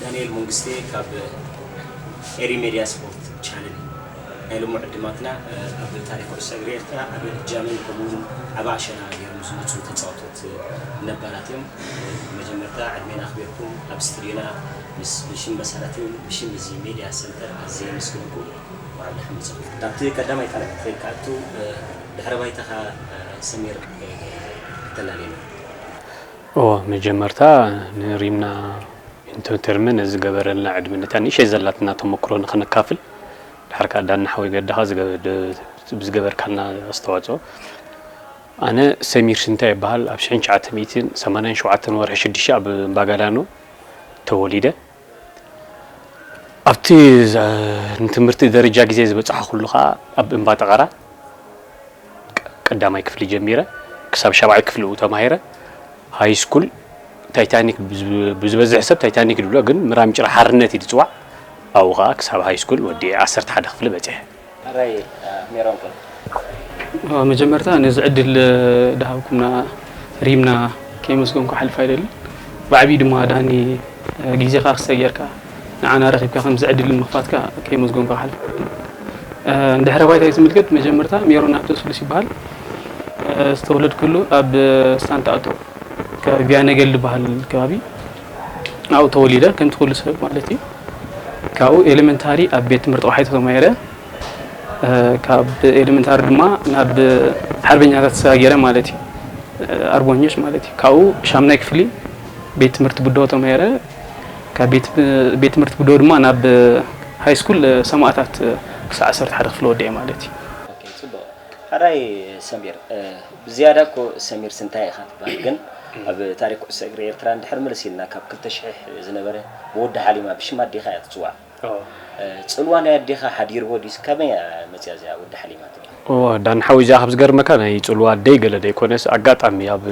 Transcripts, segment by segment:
ዳንኤል መንግስቴ ካብ ኤሪ ሜድያ ስፖርት ቻነል ናይ ሎሚ ዕድማትና ኣብ ታሪክ ኩዕሶ እግሪ ኤርትራ ኣብ ጃምን ከምኡውን ኣብ ኣሸና ገይሮም ዝመፁ ተፃወቶት ነባራት እዮም መጀመርታ ዕድሜን ኣኽቢርኩም ኣብ ስቱድዮና ምስ ብሽም መሰረትን ብሽም እዚ ሜድያ ሰንተር ኣዝየ የመስግነኩም ኣብርሃም ንጽቡቕ ናብቲ ቀዳማይ ቃላት ከይትኣቱ ድሕረ ባይታኻ ሰሚር ተላልየና። እወ መጀመርታ ንሪምና ኢንቶተርመ ነዚ ዝገበረልና ዕድመ ነታ ንእሸይ ዘላትና ተመክሮ ንክነካፍል ድሓር ከኣ ዳኒ ሓወይ ገዳካ ብዝገበርካልና ኣስተዋጽኦ ኣነ ሰሚር ሽንታ ይበሃል ኣብ ሽሕን ትሽዓተ ሚእትን ሰማንያን ሸውዓተን ወርሒ ሽዱሽተ ኣብ እምባጋዳኖ ተወሊደ ኣብቲ ንትምህርቲ ደረጃ ግዜ ዝበጻሕኹሉ ከኣ ኣብ እምባ ጠቐራ ቀዳማይ ክፍሊ ጀሚረ ክሳብ ሻብዓይ ክፍሊ እኡ ተማሂረ። ሃይስኩል ታይታኒክ ብዝበዝሕ ሰብ ታይታኒክ ድብሎ ግን ምራም ጭራ ሓርነት እዩ ድጽዋዕ ኣብኡ ከኣ ክሳብ ሃይስኩል ወዲኤ ዓሰርተ ሓደ ክፍሊ በጺሐ። ራይ ሜሮን ከ? ኣብ መጀመርታ ነዚ ዕድል ድሃብኩምና ሪምና ከየመስገንኩ ክሓልፍ ኣይደልን። ብዓቢኡ ድማ ዳኒ ግዜኻ ክስተ ጌርካ ንዓና ረኺብካ ከምዚ ዕድል ምኽፋትካ ከየመስገንኩ ክሓልፍ ኣይደልን። ንድሕረ ባይታይ ዝምልከት መጀመርታ ሜሮን ኣብተ ስሉስ ይበሃል። ዝተወለድኩሉ ኣብ ሳንታ ኣቶ ከባቢ ቢያነገል ድበሃል ከባቢ ኣብኡ ተወሊደ ከምቲ ኩሉ ሰብ ማለት እዩ ካብኡ ኤሌመንታሪ ኣብ ቤት ትምህርቲ ቆሓይቶ ተማሂረ ካብ ኤሌመንታሪ ድማ ናብ ሓርበኛታት ተሰጋጊረ ማለት እዩ ኣርቦኞች ማለት እዩ ካብኡ ሻምናይ ክፍሊ ቤት ትምህርቲ ብዶ ተማሂረ ካብ ቤት ትምህርቲ ብዶ ድማ ናብ ሃይ ስኩል ሰማእታት ክሳዕ ዓሰርተ ሓደ ክፍሊ ወዲኤ ማለት እዩ ሐራይ ሰሚር ብዝያዳ እኮ ሰሚር ስንታይ ኢኻ ትብሃል ግን ኣብ ታሪክ ኩዕሶ እግሪ ኤርትራ ንድሕር ምልስ ኢልና ካብ ክልተ ሽሕ ዝነበረ ብወዲ ሓሊማ ብሽም ኣዴኻ እያ ትጽዋዕ ጽልዋ ናይ ኣዴኻ ሓዲርዎ ድዩስ ከመይ እያ መጽያ እዚኣ ወዲ ሓሊማ ትብል። እወ ዳኒ ሓወይ እዚኣ ካብ ዝገርመካ ናይ ጽልዋ ኣደይ ገለ ዘይኮነስ ኣጋጣሚ ኣብ።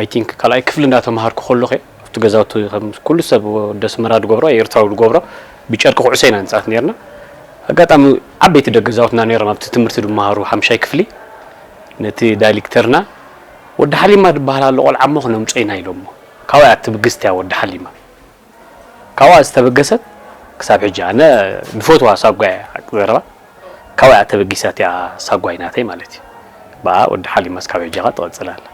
I think ካልኣይ ክፍሊ እንዳተማሃርኩ ከለኹ እየ ኣብቲ ገዛውቲ ከም ኩሉ ሰብ ወዲ ኣስመራ ዝገብሮ ኣይ ኤርትራዊ ዝገብሮ ብጨርቂ ኩዕሶ ኢና ንጻወት ኔርና ኣጋጣሚ ዓበይቲ ደገ ገዛውትና ኔሮም ኣብቲ ትምህርቲ ዝማሃሩ ሓምሻይ ክፍሊ ነቲ ዳይልክተርና ወዲ ሓሊማ ዝባሃል ኣሎ ቆልዓ እሞ ክነምጾ ኢና ኢሎሞ ካባይ ኣቲ ብግስቲያ ወዲ ሓሊማ ካብኣ ዝተበገሰት ክሳብ ሕጂ ኣነ ድፈትዋ ሳጓ ኢያ ሓቂ ዘረባ ካብኣ ኢያ ተበጊሳ እቲኣ ሳጓይ ናተይ ማለት ኢዩ ብኣ ወዲ ሓሊማስ ካብ ሕጂ ከኣ ትቅጽል ኣላ።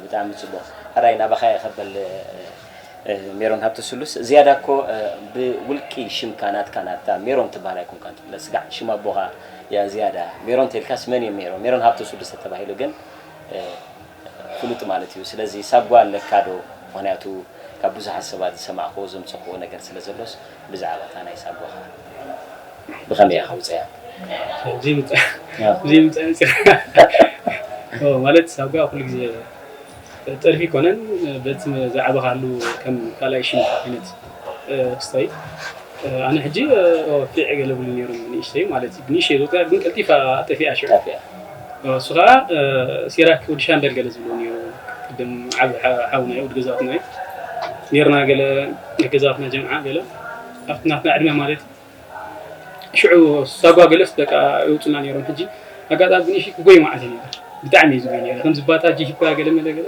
ብጣዕሚ ጽቡቅ ሕራይ ናባኻ የኸበል ሜሮን ሃብተ ስሉስ ዝያዳ እኮ ብውልቂ ሽምካ ናትካ ናትካ ሜሮን ትብሃል ኣይኮንካን ትፍለጥ ስጋዕ ሽም ኣቦኻ እያ ዝያዳ ሜሮን ተልካስ መን እዮ ሜሮን ሜሮን ሃብተ ስሉስ ተተባሂሉ ግን ፍሉጥ ማለት እዩ ስለዚ ሳጓ ኣለካ ዶ ምክንያቱ ካብ ብዙሓት ሰባት ዝሰማዕክዎ ዘምጸክዎ ነገር ስለ ዘሎስ ብዛዕባ እታ ናይ ሳጓካ ብከመይ ኢካ ውጽያ ዘይምጸኣንጽያ ማለት ሳጓ ኩሉ ግዜ ጥልፊ ኣይኮነን በቲ ዝዓበካሉ ከም ካልኣይ ሽምካ ዓይነት ክስታይ። ኣነ ሕጂ ፊዕ ገለ ብሉ ነይሮም ንእሽተይ ማለት እዩ ብንእሽተይ ዝቁፅራ ግን ቀልጢፋ ጠፊኣ ሽዑ እሱ ከዓ ሲራክ ወዲ ሻምበል ገለ ዝብሎ ነይሩ ቅድም ዓብ ሓውና ወዲ ገዛትና እዩ ነርና ገለ ገዛትና ጀምዓ ገለ ኣብቲ ናትና ዕድመ ማለት እዩ ሽዑ ሳጓ ገለስ በቃ ይውፅና ነይሮም ሕጂ ኣጋጣሚ ብንእሽተይ ክጎይ መዓልቲ ነበር ብጣዕሚ እዩ ዝጎይ ነይረ ከምዚ ባታ ጂሂካ ገለ መለ ገለ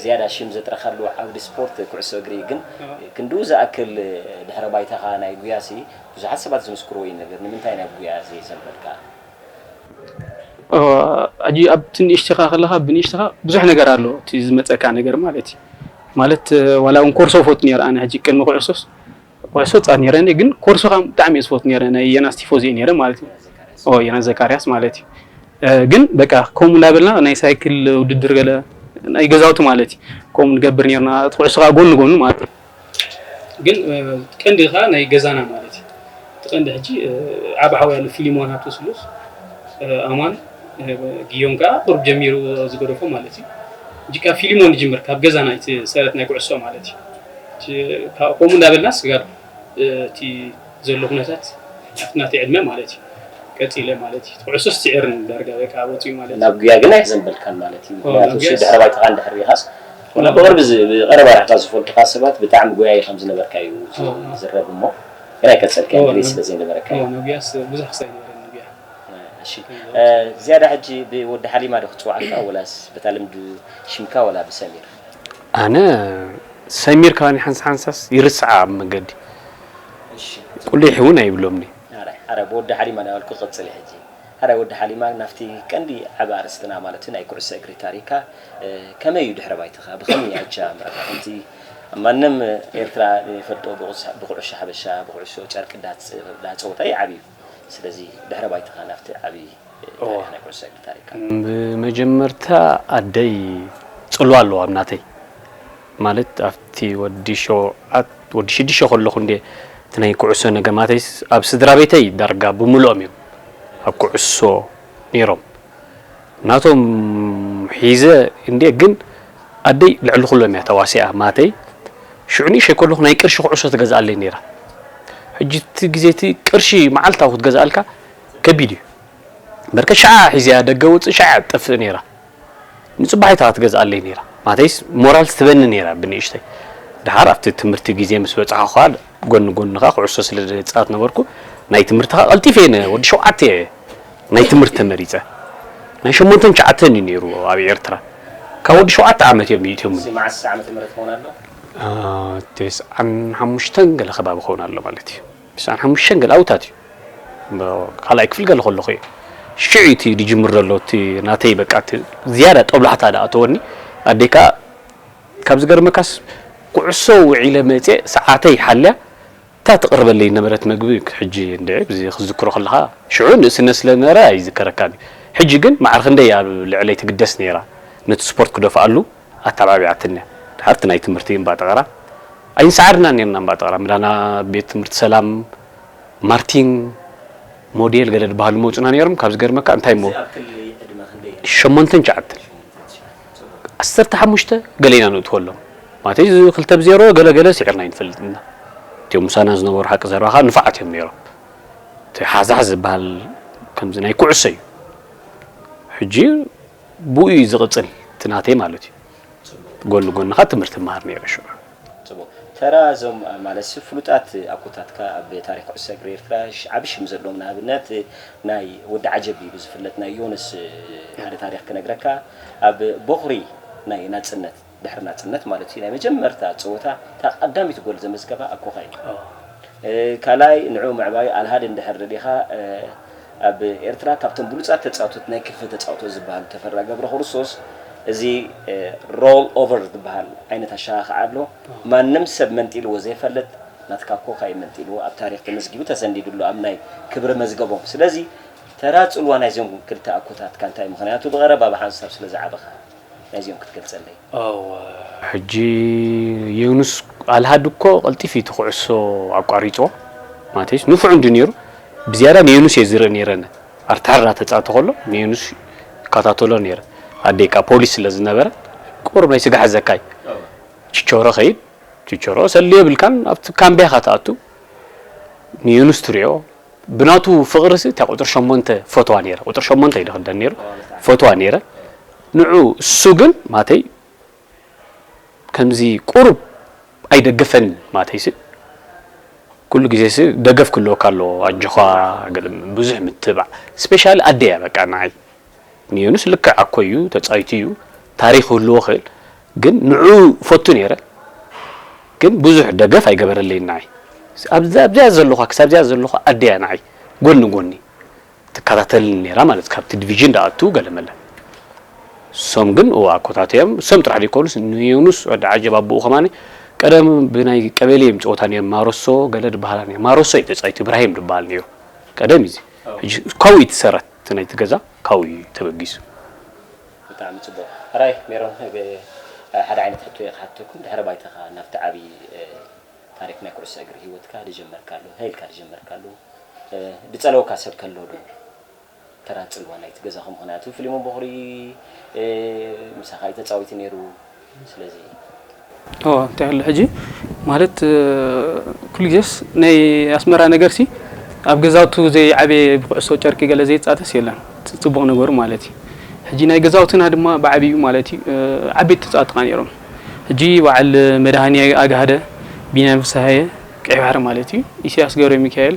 ዝያዳ ሽም ዘጥረኻሉ ዓውዲ ስፖርት ኩዕሶ እግሪ እዩ። ግን ክንድኡ ዝኣክል ድሕረ ባይታኻ ናይ ጉያሲ ብዙሓት ሰባት ዝምስክርዎ እዩ ነበር። ንምንታይ ናብ ጉያ ዘይዘንበልካ? ሕጂ ኣብቲ ንእሽተኻ ከለኻ ብንእሽተኻ ብዙሕ ነገር ኣሎ እቲ ዝመጸካ ነገር ማለት እዩ ማለት ዋላ ውን ኮርሶ እፈቱ ኔረ ኣነ ሕጂ ቅድሚ ኩዕሶስ ኮርስ ወጻእ ነይረ እኔ ግን ኮርሱ ካም ብጣዕሚ እየ ዝፈት ነይረ ናይ የናስ ቲፎዚ እየ ነይረ ማለት እዩ ኦ የናስ ዘካርያስ ማለት እዩ ግን በቃ ከምኡ እንዳበልና ናይ ሳይክል ውድድር ገለ ናይ ገዛውቲ ማለት እዩ ከምኡ ንገብር ነርና እቲ ኩዕሶ ከዓ ጎኒ ጎኑ ማለት እዩ ግን ቀንዲ ከዓ ናይ ገዛና ማለት እዩ እቲ ቀንዲ ሕጂ ዓብ ሓው ያሉ ፊሊሞን ሃብተ ስሉስ ኣማን ግዮም ከዓ ቁርብ ጀሚሩ ዝገደፎ ማለት እዩ ሕጂ ካብ ፊሊሞን ንጅምር ካብ ገዛና እቲ ሰረት ናይ ኩዕሶ ማለት እዩ ከምኡ እንዳበልና ስጋብ እቲ ዘሎ ኩነታት ኣብቲ ናተይ ዕድመ ማለት እዩ ቀጺለ ማለት እዩ ኩዕሶ ስዒርን ዳርጋ በቃ ወጺኡ ማለት እዩ። ናብ ጉያ ግን ኣይዘንበልካን ማለት እዩ ምኽንያቱ ድሕረ ባይታኻ እንድሕር ሪኢኻስ ዋላ ብቕርቢ ብቐረባ ርሕቓ ዝፈልጡኻ ሰባት ብጣዕሚ ጎያዪ ከም ዝነበርካ እዩ ዝዝረብ እሞ ግን ኣይቀጸልካዮን ድሌት ስለ ዘይነበረካ እዩ። ናብ ጉያስ ብዙሕ ክሳብ ኣይነበረኒ ጉያ። እሺ ዝያዳ ሕጂ ብወዲ ሓሊማ ዶ ክጽውዓካ ወላስ በታ ልምዲ ሽምካ ወላ ብሰሚር? ኣነ ሰሚር ከማን ሓንሳ ሓንሳስ ይርስዓ ኣብ መገዲ ቁሊሕ እውን ኣይብሎምኒ። ሐራይ ሐራይ ብወዲ ሓሊማ ናበልኩ ቀጽሊ ሕጂ ሐራይ ወዲ ሓሊማ ናብቲ ቀንዲ ዓቢ ኣርእስትና ማለት ናይ ኩዕሶ እግሪ ታሪካ ከመይ እዩ ድሕረ ባይታካ ብከመይ እዩ ኣጀማምራካ ከምቲ ማንም ኤርትራ ይፈልጦ ብኩዑሾ ሓበሻ ብኩዑሾ ጨርቂ ዳጸወታ እዩ ዓብዩ ስለዚ ድሕረ ባይታኻ ናብቲ ዓቢ ታሪኽ ናይ ኩዕሶ እግሪ ታሪኽካ። ብመጀመርታ ኣደይ ጽልዋ ኣለዋ ኣብ ናተይ ማለት ኣብቲ ወዲ ሸውዓት ወዲ ሽዱሽተ ከለኹ እንድየ እቲ ናይ ኩዕሶ ነገማተይስ ኣብ ስድራቤተይ ዳርጋ ብምልኦም እዮም ኣብ ኩዕሶ ነይሮም። ናቶም ሒዘ እንድየ ግን ኣደይ ልዕሊ ኩሎም እያ ተዋሲኣ ማተይ ሽዑ ንእሸይ ከለኹ ናይ ቅርሺ ኩዕሶ ትገዝኣለይ ነይራ ሕጂ እቲ ግዜ እቲ ቅርሺ መዓልታዊ ክትገዝኣልካ ከቢድ እዩ በርከት ሸዓ ሒዘያ ደገ ወፅእ ሸዓ ትጠፍእ ነይራ ንፅባሒት እያ ትገዝኣለይ ነይራ ማተይስ ሞራልስ ትበኒ ነይራ ብንእሽተይ ደሓር ኣብቲ ትምህርቲ ግዜ ምስ በፃሕኹ ከኣ ጎኒ ጎኒ ከኣ ኩዕሶ ስለ ዝጻወት ነበርኩ፣ ናይ ትምህርቲ ከኣ ቀልጢፈ እየ ወዲ ሸውዓተ እየ ናይ ትምህርቲ ተመሪጸ። ናይ ሸሞንተን ትሽዓተን እዩ ነይሩ ኣብ ኤርትራ። ካብ ወዲ ሸውዓተ ዓመት እዮም ይእትዮምኒ። እዚ መዓስ ዓመተ ምህረት ክኸውን ኣሎ? ተስዓን ሓሙሽተን ገለ ከባቢ ክኸውን ኣሎ ማለት እዩ። ተስዓን ሓሙሽተን ገለ ኣብኡታት እዩ። ካልኣይ ክፍሊ ገለ ከለኹ እዩ። ሽዑ እዩ እቲ ዝጅምር ዘሎ እቲ ናተይ በቃ እቲ ዝያዳ ጦብላሕታ ዝኣተወኒ። ኣደይ ከኣ ካብ ዝገርመካስ ኩዕሶ ውዒለ መጼ ሰዓተይ ሓልያ እታ ትቅርበለይ ዝነበረት መግቢ ሕጂ እንድዒ ክዝክሮ ከለካ ሽዑ ንእስነት ስለ ዝነበረ ኣይዝከረካን እዩ ሕጂ ግን ማዕረ ክንደይ እያ ኣብ ልዕለይ ትግደስ ነይራ ነቲ ስፖርት ክደፍኣሉ ኣተዓባቢዓትኒ እያ ድሓር እቲ ናይ ትምህርቲ እምባ ጠቀራ ኣይንሰዓርናን ነይርና እምባ ጠቀራ ምላና ቤት ትምህርቲ ሰላም ማርቲን ሞዴል ገለ ዝባሃሉ ይመጹና ነይሮም ካብ ዝገርመካ እንታይ እሞ ሸሞንተን ትሽዓተን ዓሰርተ ሓሙሽተ ገለ ኢና ነእትወሎም ማለተይ እዚ ክልተ ብ ዜሮ ገለ ገለ ሲዒርና ኣይንፈልጥን ኢና እቲኦም ምሳና ዝነበሩ ሓቂ ዘረባ ከኣ ንፋዓት እዮም ነይሮም እቲ ሓዛሕ ዝበሃል ከምዚ ናይ ኩዕሶ እዩ ሕጂ ብኡ እዩ ዝቕጽል እቲ ናተይ ማለት እዩ ጎኒ ጎንኻ ትምህርቲ እመሃር ነይረ ሽዑ ጽቡቕ ተራ እዞም ማለትሲ ፍሉጣት ኣቦታትካ ኣብ ታሪኽ ኩዕሶ እግሪ ኤርትራ ዓቢ ሽም ዘለዎም ንኣብነት ናይ ወዲ ዓጀብ ኢዩ ብዝፍለጥ ናይ ዮኑስ ሓደ ታሪኽ ክነግረካ ኣብ ቦኽሪ ናይ ናጽነት ድሕሪ ናጽነት ማለት ኢዩ ናይ መጀመርታ ጸወታ እታ ቀዳሚት ጎል ዘመዝገባ ኣብ ኮኻ ኢዩ ካልኣይ ንዕኡ ምዕባዩ ኣልሃድ እንድሕር ርኢኻ ኣብ ኤርትራ ካብቶም ብሉጻት ተጻውቶት ናይ ክንፈ ተጻውቶት ዝበሃሉ ተፈራ ገብረክርስቶስ እዚ ሮል ኦቨር ዝበሃል ዓይነት ኣሸኻኽዓ ኣሎ ማንም ሰብ መንጢልዎ ዘይፈልጥ ናትካ ኮካ እዩ መንጢልዎ ኣብ ታሪኽ ተመዝጊቡ ተሰኒዱ ኣሎ ኣብ ናይ ክብሪ መዝገቦም ስለዚ ተራ ጽልዋ ናይዞም ክልተ ኣኮታትካ እንታይ ምኽንያቱ ብቐረባ ብሓንሳብ ስለዝዓበኻ ናይዚኦም ክትገልጸለይ ሕጂ ዮኑስ ኣልሃድ እኮ ቀልጢፍ እዩ እቲ ኩዕሶ ኣቋሪጽዎ ማተዩስ ንፉዕ እንድዩ ኔሩ ብዝያዳ ንዮኑስ እየ ዝርኢ ኔረ ኣነ ኣርተሐር እናተጻተ ከሎ ንዮኑስ ይከታተሎ ኔረ ኣደይ ከኣ ፖሊስ ስለ ዝነበረት ቁሩብ ናይ ስጋ ሕዘካ እዩ ቺቾሮ ከይድ ቺቾሮ ሰልዲ የብልካን ኣብቲ ካምቢያ ኢካ ትኣቱ ንዮኑስ ትሪኦ ብናቱ ፍቅሪሲ እታ ቁጽሪ ሸሞንተ ፈትዋ ኔረ ቁጽሪ ሸሞንተ እዩ ድክደን ኔሩ ፈትዋ ኔረ ንዑ እሱ ግን ማተይ ከምዚ ቁሩብ ኣይደግፈን ማተይሲ ኩሉ ግዜሲ ደገፍ ክህልወካ ኣለዎ ኣጆኻ ገለ ብዙሕ ምትብባዕ ስፔሻሊ ኣደ እያ በቃ ንዓይ ንዮኑስ ልክዕ ኣኮ እዩ ተጻዊቱ እዩ ታሪኽ ክህልዎ ክእል ግን ንዑኡ እፈቱ ነይረ ግን ብዙሕ ደገፍ ኣይገበረለይን ንዓይ ኣብዛ ኣብዚኣ ዘለኳ ክሳብ እዚኣ ዘለኳ ኣደ እያ ንዓይ ጎኒ ጎኒ ትከታተልኒ ነይራ ማለት ካብቲ ዲቪዥን ዳኣቱ ገለመለ ሶም ግን እዋ ኮታት እዮም ሶም ጥራሕ ዘይኮኑስ ንዮኑስ ወዲ ዓጀብ ኣቦኡ ከማኒ ቀደም ብናይ ቀበሌ እዮም ጸወታ ነይሩ ማሮሶ ገለ ድበሃላ ነይሩ ማሮሶ እዩ ተጻዊቱ ኢብራሂም ድበሃል ነይሩ ቀደም እዩ ሕጂ ካብኡ እዩ ትሰረት እቲ ናይቲ ገዛ ካብኡ እዩ ተበጊሱ። ብጣዕሚ ጽቡቕ ኣራይ ሜሮን ሓደ ዓይነት ሕቶ እየ ክሓተኩም ድሕረ ባይታኻ ናብቲ ዓቢ ታሪኽ ናይ ኩዕሶ እግሪ ሂወትካ ድጀመርካሉ ሃ ኢልካ ድጀመርካሉ ድጸለወካ ሰብ ከሎ ዶ ተራ ጽልዋ ናይቲ ገዛኹም ምኽንያቱ ፍሊሞን ቦኽሪ ምሳኻ እዩ ተጻዊቲ ኔሩ ስለዚ ኦ እንታይ ኣሎ ሕጂ ማለት ኩሉ ግዜስ ናይ ኣስመራ ነገርሲ ኣብ ገዛውቱ ዘይዓበየ ብኩዕሶ ጨርቂ ገለ ዘይጻተስ የለን ጽቡቕ ነገሩ ማለት እዩ ሕጂ ናይ ገዛውትና ድማ ብዓቢኡ ማለት እዩ ዓበይቲ ተጻወቲ ከኣ ነይሮም ሕጂ በዓል መድሃኔ ኣግሃደ ቢንያም ፍስሃየ ቀይሕ ባሕሪ ማለት እዩ ኢሰያስ ገብረሚካኤል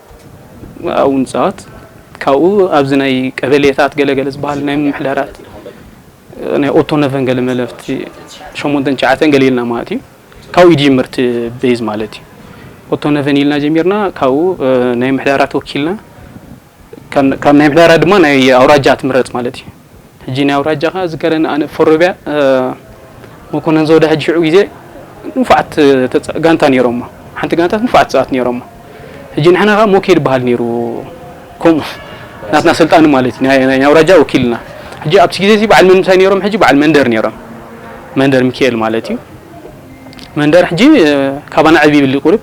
ኣብኡ ንጻወት ካብኡ ኣብዚ ናይ ቀበሌታት ገለ ገለ ዝበሃል ናይ ምምሕዳራት ናይ ኦቶነቨን ገለ መለፍቲ ሸሞንተን ትሽዓተን ገለ ኢልና ማለት እዩ ካብኡ ይጅምር እቲ ቤዝ ማለት እዩ ኦቶነቨን ኢልና ጀሚርና ካብኡ ናይ ምሕዳራት ወኪልና ካብ ናይ ምሕዳራት ድማ ናይ ኣውራጃ ትምረጽ ማለት እዩ ሕጂ ናይ ኣውራጃኻ ዝከረኒ ኣነ ፎሮብያ መኮነን ዘውዳ ሕጂ ሽዑ ግዜ ንፉዓት ጋንታ ነይሮሞ ሓንቲ ጋንታ ንፉዓት ተጻወት ነይሮሞ ሕጂ ንሕና ከኣ ሞኬድ ይበሃል ነይሩ ከምኡ ናትና ስልጣን ማለት ናይ ናይ ኣውራጃ ወኪልና ሕጂ ኣብቲ ግዜ እዚ በዓል መንምታይ ነይሮም ሕጂ በዓል መንደር ነይሮም መንደር ሚካኤል ማለት እዩ መንደር ሕጂ ካባና ዕብ ይብል ቁርብ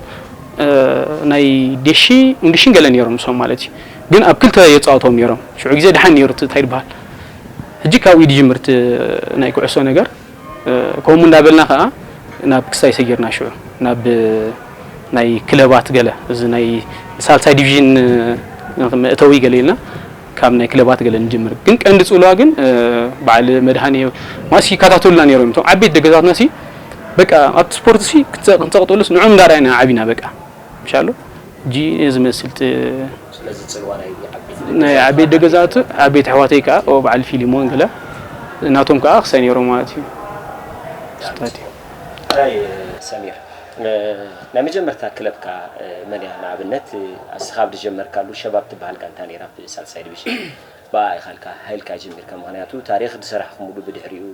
ናይ ዴሺ ንዲሽን ገለ ነይሮም ንሶም ማለት እዩ ግን ኣብ ክልተ የጻውቶም ኔሮም ሽዑ ግዜ ድሓን ኔሩ እቲ ታይ ድብሃል ሕጂ ካብኡ ድጅምር እቲ ናይ ኩዕሶ ነገር ከምኡ እንዳበልና ከኣ ናብ ክስታይ ሰጊርና ሽዑ ናብ ናይ ክለባት ገለ እዚ ናይ ሳልሳይ ዲቪዥን መእተዊ ገለ ኢልና ካብ ናይ ክለባት ገለ ንጅምር ግን ቀንዲ ጽልዋ ግን በዓል መድሃኔ ማለት ይከታተሉና ኔሮም እዮም እቶም ዓበይቲ ደገታትና ሲ በቃ ኣብቲ ስፖርት ሲ ክንጸቅጥሉስ ንዕኦም እንዳርኣና ኢና ዓቢና በቃ ምሻሉ ጂኢኔ ዝመስል ጥ ስለዚ ጽልዋ ናይ ዓበይቲ ደገዛቱ ዓበይቲ ኣሕዋተይ ከኣ ኦ በዓል ፊሊሞን ገለ ናቶም ከኣ ክሳይ ነይሮም ማለት እዩ ስታትዩ ኣራይ ሰሚር ናይ መጀመርታ ክለብካ መን እያ ንኣብነት ኣስኻ ኣብ ድጀመርካሉ ሸባብ ትበሃል ጋንታ ነይራ ኣብ ሳልሳይ ድቪሽን ብኣኣ ኢኻ ልካ ሃይልካ ጀሚርካ ምኽንያቱ ታሪኽ ድሰራሕኩሙሉ ብድሕሪኡ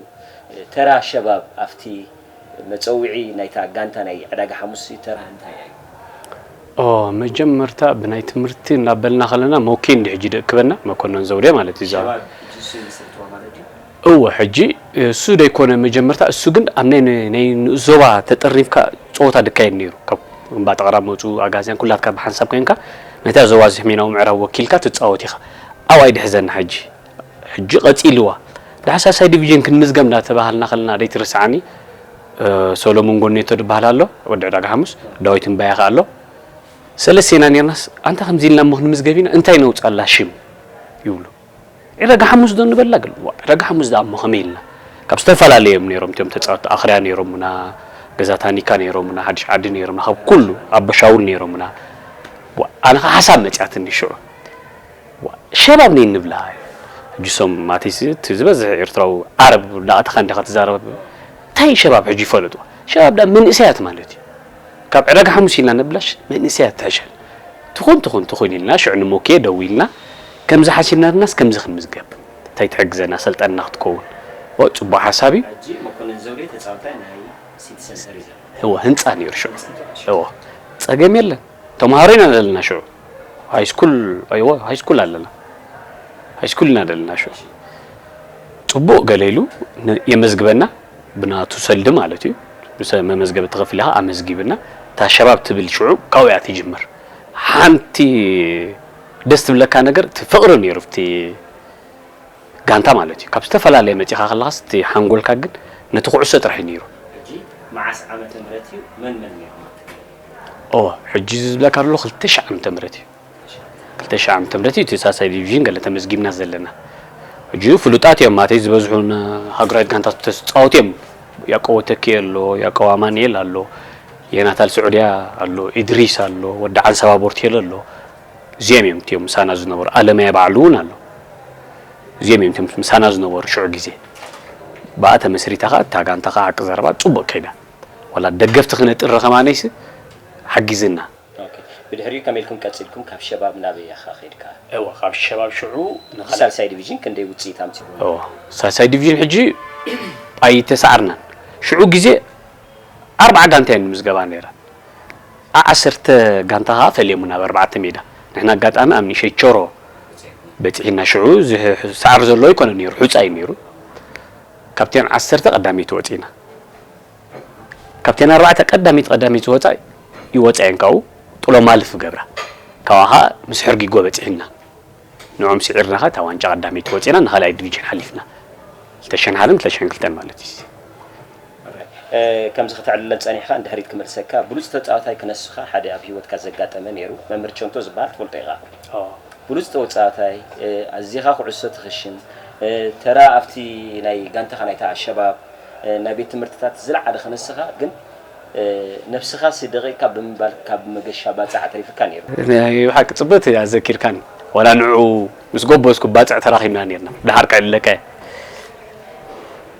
ተራ ሸባብ ኣብቲ መጸውዒ ናይታ ጋንታ ናይ ዕዳጋ ሓሙስ ተራ እንታይ ኣዩ? ኦ መጀመርታ ብናይ ትምህርቲ እናበልና ከለና ሞኪ እንዲ ሕጂ ደክበና መኮነን ዘውዴ ማለት እዩ እዛ ሸባብ ሕጂ እሱ ይምስርትዋ ማለት ድዩ? እወ ሕጂ እሱ ደይኮነ መጀመርታ እሱ ግን ኣብ ናይ ናይ ንኡስ ዞባ ተጠርኒፍካ ጸወታ ድካየድ ነይሩ ካብ እምባ ጠቅራ መጹ ኣጋዝያን ኩላትካ ብሓንሳብ ኮንካ ነታ ዞባ እዚ ሕሜናዊ ምዕራብ ወኪልካ ትጻወት ኢካ ኣብኣ እዩ ድሕዘና ሕጂ ሕጂ ቀጺልዋ ዳሕሳሳይ ዲቪዥን ክንምዝገብ እንዳተባሃልና ከለና ደይትርስዓኒ ሰሎሙን ጎኔቶ ድባሃል ኣሎ ወዲ ዕዳጋ ሓሙስ ዳዊት እምባያ ከኣ ኣሎ ሰለስቴና ኔርናስ ኣንታ ከምዚ ኢልና እሞ ክንምዝገብ ኢና እንታይ ነውጻላ ሽም ይብሉ ዕዳጋ ሓሙስ ዶ ንበላ ግል ዋ ዕዳጋ ሓሙስ ደኣ እሞ ከመይ ኢልና ካብ ዝተፈላለየ እዮም ኔሮም እቲኦም ተጻወቲ ኣኽርያ ኔሮሙና ገዛ ታኒካ ኔሮሙና ሓድሽ ዓዲ ኔሮሙና ካብ ኩሉ ኣቦሻውል ኔሮሙና ዋ ኣነ ከኣ ሓሳብ መጽያትኒ ሽዑ ሸብ ኣብ ነይ ንብላ ሕጂ ሶም ማቲስ እቲ ዝበዝሕ ኤርትራዊ ዓረብ ዳኣተኻ እንዲኻ ትዛረብ ታይ ሸባብ ሕጂ ይፈለጡ ሸባብ ዳኣ መንእሰያት ማለት እዩ ካብ ዕዳጋ ሓሙስ ኢልና ንብላሽ መንእሰያት ትሕሸል ትኹን ትኹን ትኹን ኢልና ሽዑ ንሞኬ ደዊልና ከምዚ ሓሲብና ድናስ ከምዚ ክንምዝገብ ታይ ትሕግዘና ሰልጠንና ክትከውን እወ ጽቡቅ ሓሳብ እዩ። ሕጂ መኮነን ዘውዴ ተጻብታይ ናይ ሲቲ ሰንተር እዩ ዘሎ። እወ ህንጻ ኔሩ ሽዑ እወ ጸገም የለን። ተምሃሮ ኢና ዘለና ሽዑ ሃይስኩል ኣይወ ሃይስኩል ኣለና ሃይስኩል ኢና ዘለና ሽዑ ጽቡቕ ገለ ኢሉ የመዝግበና ብናቱ ሰልዲ ማለት እዩ ብሰ መመዝገቢ ተኸፊል ኢኻ ኣመዝጊብና እታ ሸባብ ትብል ሽዑ ካብኡ እያ ትጅምር ሓንቲ ደስ ትብለካ ነገር እቲ ፍቕሪ ነይሩ እቲ ጋንታ ማለት እዩ ካብ ዝተፈላለየ መፂኻ ከለኻስ እቲ ሓንጎልካ ግን ነቲ ኩዕሶ ጥራሕ እዩ ነይሩ መዓስ ዓመተ ምህረት እዩ መን መን ነይሮም እወ ሕጂ እዚ ዝብለካ ዘሎ ክልተ ሽሕ ዓመተ ምህረት እዩ ክልተ ሽሕ ዓመተ ምህረት እዩ እቲ ሳልሳይ ዲቪዥን ገለ ተመዝጊብና ዘለና ሕጂ ፍሉጣት እዮም ማተይ ዝበዝሑ ሃገራዊት ጋንታት ተጻወቱ እዮም ያቆቦ ተኪኤ ኣሎ ያቆብ ኣማንኤል ኣሎ የናታል ስዑድያ ኣሎ ኢድሪስ ኣሎ ወዲ ዓንሰባ ቦርቴሎ ኣሎ እዚኦም እዮም እትዮም ምሳና ዝነበሩ ኣለማየ ባዕሉ እውን ኣሎ እዚኦም እዮም ምሳና ዝነበሩ ሽዑ ግዜ ብኣ ተመስሪታ ከዓ እታ ጋንታ ከዓ ዓቂ ዘረባ ፅቡቅ ከይዳ ዋላ ደገፍቲ ክነጥሪ ከማነይሲ ሓጊዝና። ኦኬ ብድሕሪኡ ከመይ ኢልኩም ቀጺልኩም ካብ ሸባብ ናበይ ኢኻ ከይድካ? እወ ካብ ሸባብ ሽዑ ንኻልኣይ። ሳልሳይ ዲቪዥን ክንደይ ውጽኢት ኣምጺኡ? እወ ሳልሳይ ዲቪዥን ሕጂ ኣይተሳዓርናን ሽዑ ግዜ ኣርብዓ ጋንታ እየን ዝምዝገባ ነይረን ብ ዓሰርተ ጋንታ ከኣ ፈልየሙና ብ ኣርባዕተ ሜዳ ንሕና ኣጋጣሚ ኣብ ንእሸት ቾሮ በጺሒና ሽዑ ዝሳዓር ዘሎ ኣይኮነን ነይሩ ሑጻ እዩ ነይሩ ካብተን ዓሰርተ ቀዳመይቲ ወጺእና ካብተን ኣርባዕተ ቀዳመይቲ ቀዳመይቲ ዝወጻ ይወጻ እየን ካብኡ ጥሎ ማለፍ ይገብራ ካብኣ ከኣ ምስ ሕርጊጎ በጺሕና ንዕኦም ስዒርና ከኣ እታ ዋንጫ ቀዳመይቲ ወጺእና ንኻልኣይ ዲቪዥን ሓሊፍና ክልተ ሽሕን ሓደን ክልተ ሽሕን ክልተን ማለት እዩ ከምዚ ከተዕልለል ጸኒሕካ ንድሕሪት ክመልሰካ ብሉጽ ተጻዋታይ ክነስኻ ሓደ ኣብ ሂወትካ ዘጋጠመ ኔሩ መምህር ቸንቶ ዝበሃል ትፈልጦ ኢኻ ብሉጽ ተወጻዋታይ ኣዚኻ ኩዕሶ ትኽሽን ተራ ኣብቲ ናይ ጋንታኻ ናይታ ኣልሸባብ ናይ ቤት ትምህርትታት ዝለዓለ ክንስኻ ግን ነብስኻሲ ደቂቅካ ብምባል ካብ መገሻ ባጽዕ ኣትሪፍካ ኔሩ። ናይ ብሓቂ ጽብቅቲ እያ ዘኪርካኒ ዋላ ንዕኡ ምስ ጎበዝኩ ባጽዕ ተራኺብና ኔርና ደሓር ክዕለቀ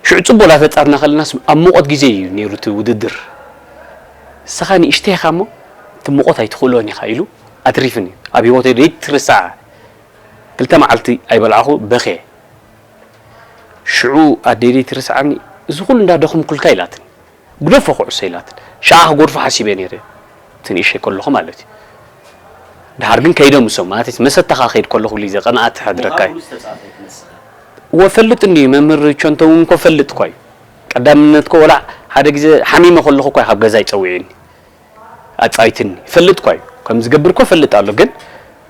ሽዑ ጽቡቅ ዳፈጠርና ከለናስ ኣብ ሙቆት ግዜ እዩ ኔሩ እቲ ውድድር ንስኻ ንእሽተይ ኢኻ እሞ እቲ ሙቆት ኣይትኽእሎን ኢኻ ኢሉ ኣትሪፍኒ ኣብ ሂወተይ ዘይትርሳዕ ክልተ መዓልቲ ኣይበላዕኹ በኽየ ሽዑ ኣደይ ደይ ትርስዓኒ እዚ ኩሉ እንዳ ደኹምኩልካ ኢላትኒ ግደፎ ኩዕሶ ኢላትኒ ሽዓ ክጎድፎ ሓሲበ ነይረ እቲ ንእሸይ ከለኹ ማለት እዩ ድሓር ግን ከይደ ምሶም ማለት መሰታኻ ከይድ ከለኹ ብሊ ዘቀንኣ ትሕድረካ እዩ ወፈልጥ እንዲ መምህር ቸንቶ እውን ኮ ፈልጥ እኳ እዩ ቀዳምነት ኮ ወላ ሓደ ግዜ ሓሚመ ከለኹ እኳ ካብ ገዛ ይፀውዒኒ ኣጻይትኒ ይፈልጥኳ እዩ ከም ዝገብር እኮ እፈልጥ ኣሎ ግን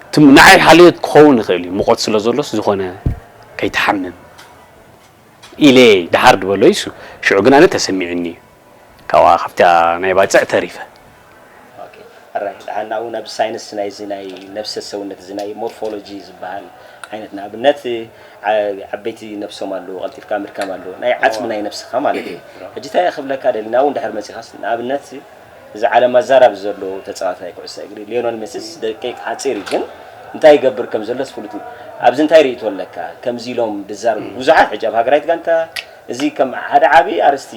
እቲ ንዓይ ሓልዮት ክኸውን ይኽእል እዩ ሙቖት ስለ ዘሎስ ዝኾነ ከይትሓምም ኢለ ደሓር ድበሎ ኢሱ ሽዑ ግን ኣነ ተሰሚዑኒ እዩ ካብኣ ካብታ ናይ ባጽዕ ተሪፈ። ኦኬ ሕራይ ደሓን ናብኡ ናብ ሳይንስ ናይዚ ናይ ነብሰ ሰውነት እዚ ናይ ሞርፎሎጂ ዝበሃል ዓይነት ንኣብነት ዓበይቲ ነብሶም ኣለዉ ቀልጢፍካ ምድካም ኣለዎ ናይ ዓጽሚ ናይ ነብስካ ማለት እዩ ሕጂ ታይ ክብለካ ደልየ ናብኡ እንድሕር መጺካስ ንኣብነት እዚ ዓለም ኣዛራቢ ዘሎ ተጻዋታይ ኩዕሶ እግሪ ሌዮነል ሜስስ ደቂቅ ሓጺር እዩ ግን እንታይ ይገብር ከም ዘሎስ ፍሉጥ እዩ ኣብዚ እንታይ ሪኢቶ ኣለካ ከምዚ ኢሎም ድዛረቡ ብዙሓት ሕጂ ኣብ ሃገራዊት ጋንታ እዚ ከም ሓደ ዓቢ ኣርስቲ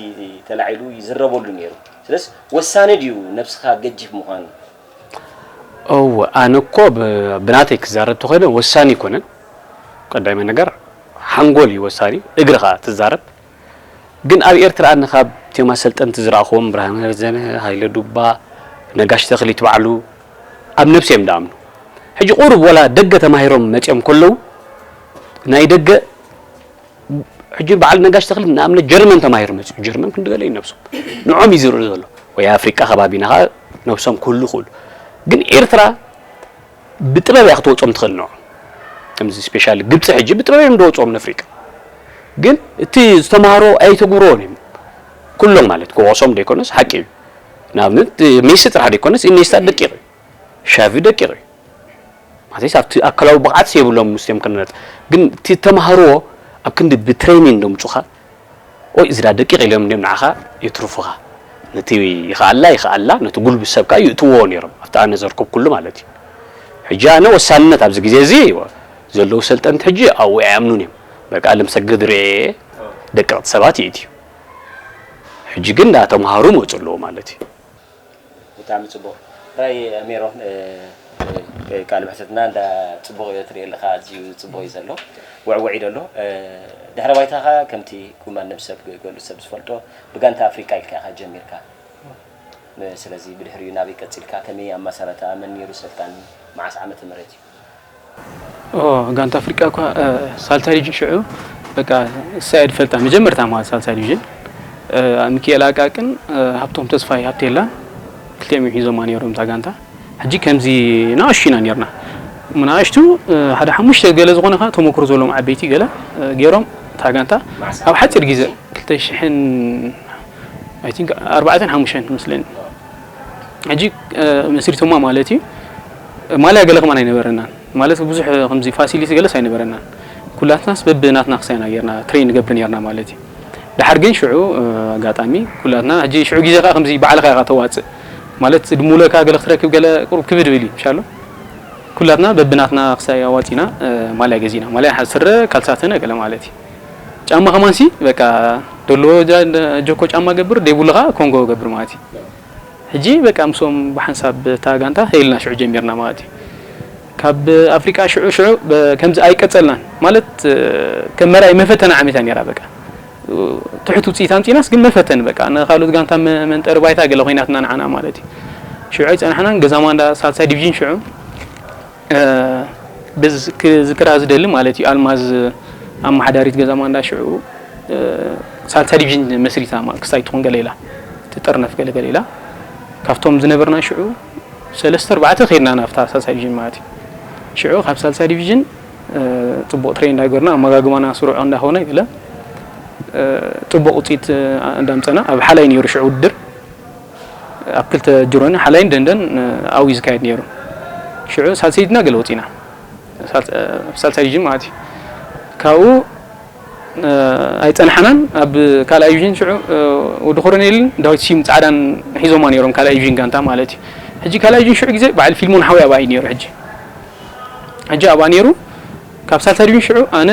ተላዒሉ ይዝረበሉ ኔሩ ስለስ ወሳኒ ድዩ ነብስካ ገጂፍ ምኳን እወ ኣነ እኮ ብናተይ ክዛረብ ተኮይነ ወሳኒ ኣይኮነን ቀዳማይ ነገር ሓንጎል እዩ ወሳኒ እግሪ ከኣ ትዛረብ ግን ኣብ ኤርትራ ኣነ ካብ እትዮም ኣሰልጠንቲ ዝረኣክዎም ብርሃነ ረዘነ ሃይለ ዱባ ነጋሽ ተክሊት ባዕሉ ኣብ ነብሲ እዮም ደኣምኑ ሕጂ ቁሩብ ወላ ደገ ተማሂሮም መጽዮም ከለዉ ናይ ደገ ሕጂ በዓል ነጋሽ ተኽሊ ንኣብነት ጀርመን ተማሂሩ መጺኡ ጀርመን ክንዲ ገለ እዩ ነብሶም ንዖም እዩ ዝርኢ ዘሎ ወይ ኣፍሪቃ ከባቢና ከኣ ነብሶም ክህሉ ይኽእሉ ግን ኤርትራ ብጥበብ እያ ክትወጾም ትኽእል ንዖም ከምዚ ስፔሻሊ ግብጺ ሕጂ ብጥበብ እዮም ዝወጽኦም ንኣፍሪቃ ግን እቲ ዝተማሃሮ ኣይተግብሮዎን እዮም ኩሎም ማለት ክወቕሶም ዘይኮነስ ሓቂ እዩ ንኣብነት ሜሲ ጥራሕ ዘይኮነስ ኢኔስታ ደቂቕ እዩ ሻቪ ደቂቅ እዩ ማለተይስ ኣብቲ ኣካላዊ ብቕዓትስ የብሎም ምስኦም ክንነጽ ግን እቲ ተማሃርዎ ኣብ ክንዲ ብትሬኒን ደምጹኻ ወይ እዚዳ ደቂቅ ኢሎም እንዲም ንዓኻ የትርፉኻ ነቲ ይኸኣላ ይኸኣላ ነቲ ጉልብት ሰብ ከኣ ይእትዎ ነይሮም ኣብቲ ኣነ ዘርኩብኩሉ ማለት እዩ ሕጂ ኣነ ወሳንነት ኣብዚ ግዜ እዚ ዘለዉ ሰልጠንቲ ሕጂ ኣብኡ ኣይኣምኑን እዮም በቃ ልምሰግድ ርኤየ ደቀቕቲ ሰባት ይእትዩ ሕጂ ግን ዳተምሃሩ መጹ ኣለዉ ማለት እዩ ብጣዕሚ ጽቡቅ ጥራይ ሜሮን ቃለ መሕተትና እንዳ ጽቡቅ እዮ ትሪኦ ኣለካ ኣዝዩ ጽቡቅ እዩ ዘሎ ወዕወዒ ዶ ኣሎ ድሕረ ባይታካ ከምቲ ኩማን ነብሲ ሰብ ገሉ ሰብ ዝፈልጦ ብጋንታ ኣፍሪቃ ኢልካ ኢካ ጀሚርካ ስለዚ ብድሕሪኡ ናበይ ቀጺልካ ከመይ ኣማሳራታኣ መን ኔሩ ሰልጣኒ መዓስ ዓመተ ምህረት እዩ ጋንታ ኣፍሪቃ እኳ ሳልሳይ ዲቪዥን ሽዑ በቃ እሳይ ኣድፈልጣ መጀመርታ ማለት ሳልሳይ ዲቪዥን ሚካኤል ኣቃቅን ሃብቶም ተስፋይ ሃብቴላን ክልቲኦም እዮም ሒዞማ ነይሮም እዛ ጋንታ ሕጂ ከምዚ ንኣሽቱ ኢና ነርና ንኣሽቱ ሓደ ሓሙሽተ ገለ ዝኾነ ከ ተመክሮ ዘለዎም ዓበይቲ ገለ ገይሮም እታ ጋንታ ኣብ ሓፂር ግዜ ክልተ ሽሕን ኣይ ቲንክ ኣርባዕተን ሓሙሽተን መስለኒ ሕጂ መስሪቶማ ማለት እዩ ማልያ ገለ ከማን ኣይነበረናን ማለት ብዙሕ ከምዚ ፋሲሊቲ ገለስ ኣይነበረናን ኩላትናስ በብናትና ክሳይና ጌርና ትሬን ንገብር ኔርና ማለት እዩ ድሓር ግን ሽዑ ኣጋጣሚ ኩላትና ሕጂ ሽዑ ግዜ ከኣ ከምዚ ባዕልኻ ኢኻ ተዋጽእ ማለት ድሙለካ ገለ ክትረክብ ገለ ቁሩብ ክብድ ብል እዩ ሻሎ ኩላትና በብናትና ክሳይ ኣዋጺና ማልያ ገዚእና ማልያ ስረ ካልሳተነ ገለ ማለት እዩ ጫማ ከማን ሲ በቃ ደሎ ጆኮ ጫማ ገብር ደይብሉ ከኣ ኮንጎ ገብር ማለት እዩ ሕጂ በቃ ምስኦም ብሓንሳብ እታ ጋንታ ሄልና ሽዑ ጀሚርና ማለት እዩ ካብ ኣፍሪቃ ሽዑ ሽዑ ከምዚ ኣይቀጸልናን ማለት ከም መርኣይ መፈተና ዓመት እያ ነይራ በቃ ትሑት ውጽኢት ኣምጺናስ ግን መፈተኒ በቃ ንካልኦት ጋንታ መንጠሪ ባይታ ገለ ኮይናትና ንዓና ማለት እዩ ሽዑ ኣይጸናሕናን ገዛማ እንዳ ሳልሳይ ዲቪዥን ሽዑ በዚ ክዝክራ ዝደሊ ማለት እዩ ኣልማዝ ኣመሓዳሪት ገዛ ማንዳ ሽዑ ሳልሳ ዲቪዥን መስሪታ ማለት ክሳይ ትኾን ገለ ኢላ ትጥርነፍ ገለ ገለ ኢላ ካብቶም ዝነበርና ሽዑ ሰለስተ ኣርባዕተ ከይድና ናብታ ሳልሳይ ዲቪዥን ማለት እዩ ሽዑ ካብ ሳልሳይ ዲቪዥን ፅቡቅ ትሬን እንዳገርና ኣመጋግባና ስሩዕ እንዳኾነ ገለ ፅቡቅ ውፅኢት እንዳምፀና ኣብ ሓላይ ነይሩ ሽዑ ውድድር ኣብ ክልተ ጅሮኒ ሓላይን ደንደን ኣውዩ ዝካየድ ነይሩ። ሽዑ ሳልሰይ ድና ገለ ወጺና ሳልሳይ ዲቪዥን ማለት እዩ። ካብኡ ኣይጸናሕናን ኣብ ካልኣይ ዲቪዥን ሽዑ ወዲ ኮሮኔልን ዳዊት ሲም ጻዕዳን ሒዞማ ነይሮም ካልኣይ ዲቪዥን ጋንታ ማለት እዩ። ሕጂ ካልኣይ ዲቪዥን ሽዑ ግዜ በዓል ፊልሞን ሓውይ ኣብኣ እዩ ነይሩ ሕጂ ሕጂ ኣብኣ ነይሩ ካብ ሳልሳይ ዲቪዥን ሽዑ ኣነ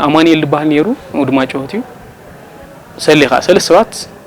ኣማኒኤል ዝበሃል ነይሩ ወዲ ማጨወት እዩ ሰሌ ከዓ ሰለስተ ሰባት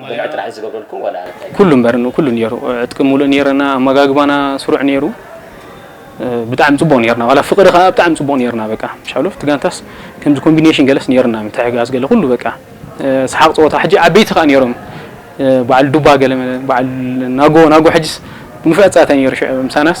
ብልሒ ጥራሕ እዩ ዝገብረልኩም ዋላ እንታይ? ኩሉ እምበር ንኩሉ ኔሩ ዕጥቂ ሙሉእ ኔረና ኣመጋግባና ስሩዕ ኔሩ ብጣዕሚ ጽቡቅ ኔርና ዋላ ፍቅሪ ከኣ ብጣዕሚ ጽቡቅ ኔርና በቃ ሻሎፍ እቲ ጋንታስ ከምዚ ኮምቢኔሽን ገለስ ኔርና ምትሕግጋዝ ገለ ኩሉ በቃ ሰሓቅ ጸወታ ሕጂ ዓበይቲ ከኣ ኔሮም በዓል ዱባ ገለ በዓል ናጎ ናጎ ሕጅስ ንፉዕ ጸታ ኔሩ ሽዑ ምሳናስ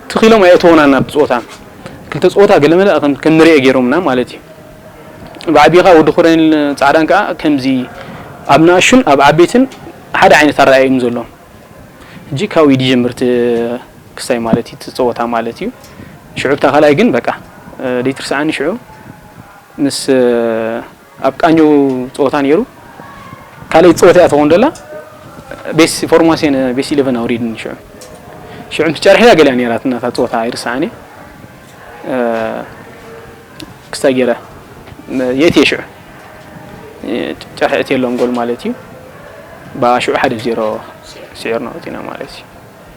ትኽ ኢሎም ኣየእተዉናን ናብቲ ጾታ ክልተ ጾታ ገለመለ ከም ከም ንርኤ ገይሮምና ማለት እዩ ብዓቢኻ ወዲ ኮረኔል ጻዕዳን ከኣ ከምዚ ኣብ ንኣሹን ኣብ ዓበይትን ሓደ ዓይነት ኣረኣእያ እዩ ዘለዎም ሕጂ ካብኡ እዩ ዝጀምር እቲ ክስታይ ማለት እዩ እቲ ጸወታ ማለት እዩ ሽዑ ብታ ካልኣይ ግን በቃ ደይትርስዓኒ ሽዑ ምስ ኣብ ቃኘው ጸወታ ኔሩ ካልኣይቲ ጸወታ ኢያ ትኸውን ዘላ ቤስ ፎርማስዮን ቤስ ኢለቨን ኣውሪድኒ ሽዑ ሽዑ ምስ ጨርሒዳ ገሊኣ ኔራትና እታ ጸወታ ኣይርስዓን ኢየ ክስታይ ጌረ የእትየ ሽዑ ጨርሒ ኣእትየሎም ጎል ማለት ኢዩ ብኣ ሽዑ ሓደ ብ ዜሮ ስዒርና ወጺእና ማለት ኢዩ።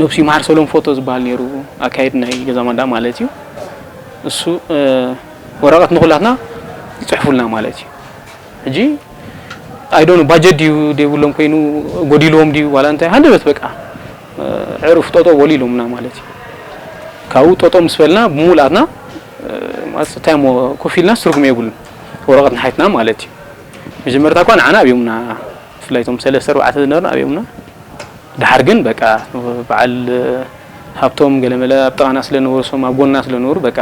ነብሱ ይምሓር ሰሎም ፎቶ ዝብሃል ኔሩ ኣካየዲ ናይ ገዛ ማንዳ ማለት እዩ እሱ ወረቀት ንኩላትና ይጽሕፉልና ማለት እዩ ሕጂ ኣይዶኑ ባጀት ድዩ ደይብሎም ኮይኑ ጎዲልዎም ድዩ ዋላ እንታይ ሃንደበት በቃ ዕርፍ ጦጦ በሉ ኢሎምና ማለት እዩ ካብኡ ጦጦ ምስ በልና ብምሉኣትና ማፅታይ ሞ ኮፍ ኢልና ትርጉም የብሉን ወረቀት ንሓይትና ማለት እዩ መጀመርታ እኳ ንዓና ኣብዮምና ብፍላይ እቶም ሰለስተ ኣርባዕተ ዝነበርና ኣብዮምና ደሓር ግን በቃ በዓል ሃብቶም ገለመለ ኣብ ጥቓና ስለ ዝነበሩ እሶም ኣብ ጎንና ስለ ዝነበሩ በቃ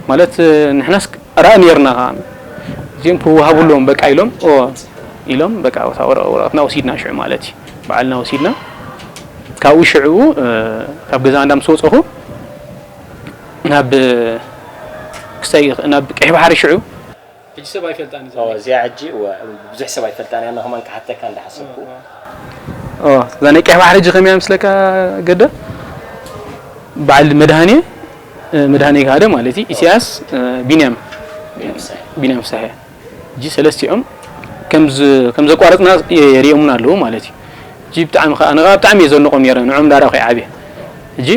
ማለት ንሕናስ ራኢ ኔርና ከኣ እዚኦም ክወሃቡ ኣለዎም በቃ ኢሎም ኢሎም በቃ እታ ወረቐትና ወሲድና ሽዑ ማለት እዩ በዓልና ወሲድና ካብኡ ሽዑኡ ካብ ገዛ እንዳ ምስ ወጸኹ ናብ ክሳይ ናብ ቀይሕ ባሕሪ ሽዑ ሕጂ ሰብ ኣይፈልጣን እዛ ናይ እዚኣ ሕጂ እወ ብዙሕ ሰብ ኣይፈልጣን እያ ከማን ክሓተካ እንዳ ሓሰብኩ። እወ እዛ ናይ ቀይሕ ባሕሪ ሕጂ ከመይ እያ ምስለካ ገደ በዓል መድሃኔ መድሃኔ ግሃደ ማለት እዩ ኢሳያስ ቢንያም ቢንያም ፍስሐ ሕጂ ሰለስቲኦም ከም ዘቋረጽና የርእዮሙና ኣለዉ ማለት እዩ። ሕጂ ብጣዕሚ ከኣ ንኻ ብጣዕሚ እየ ዘድንቖም ነይረ ንዖም ዳርኣ ከይዓብየ ሕጂ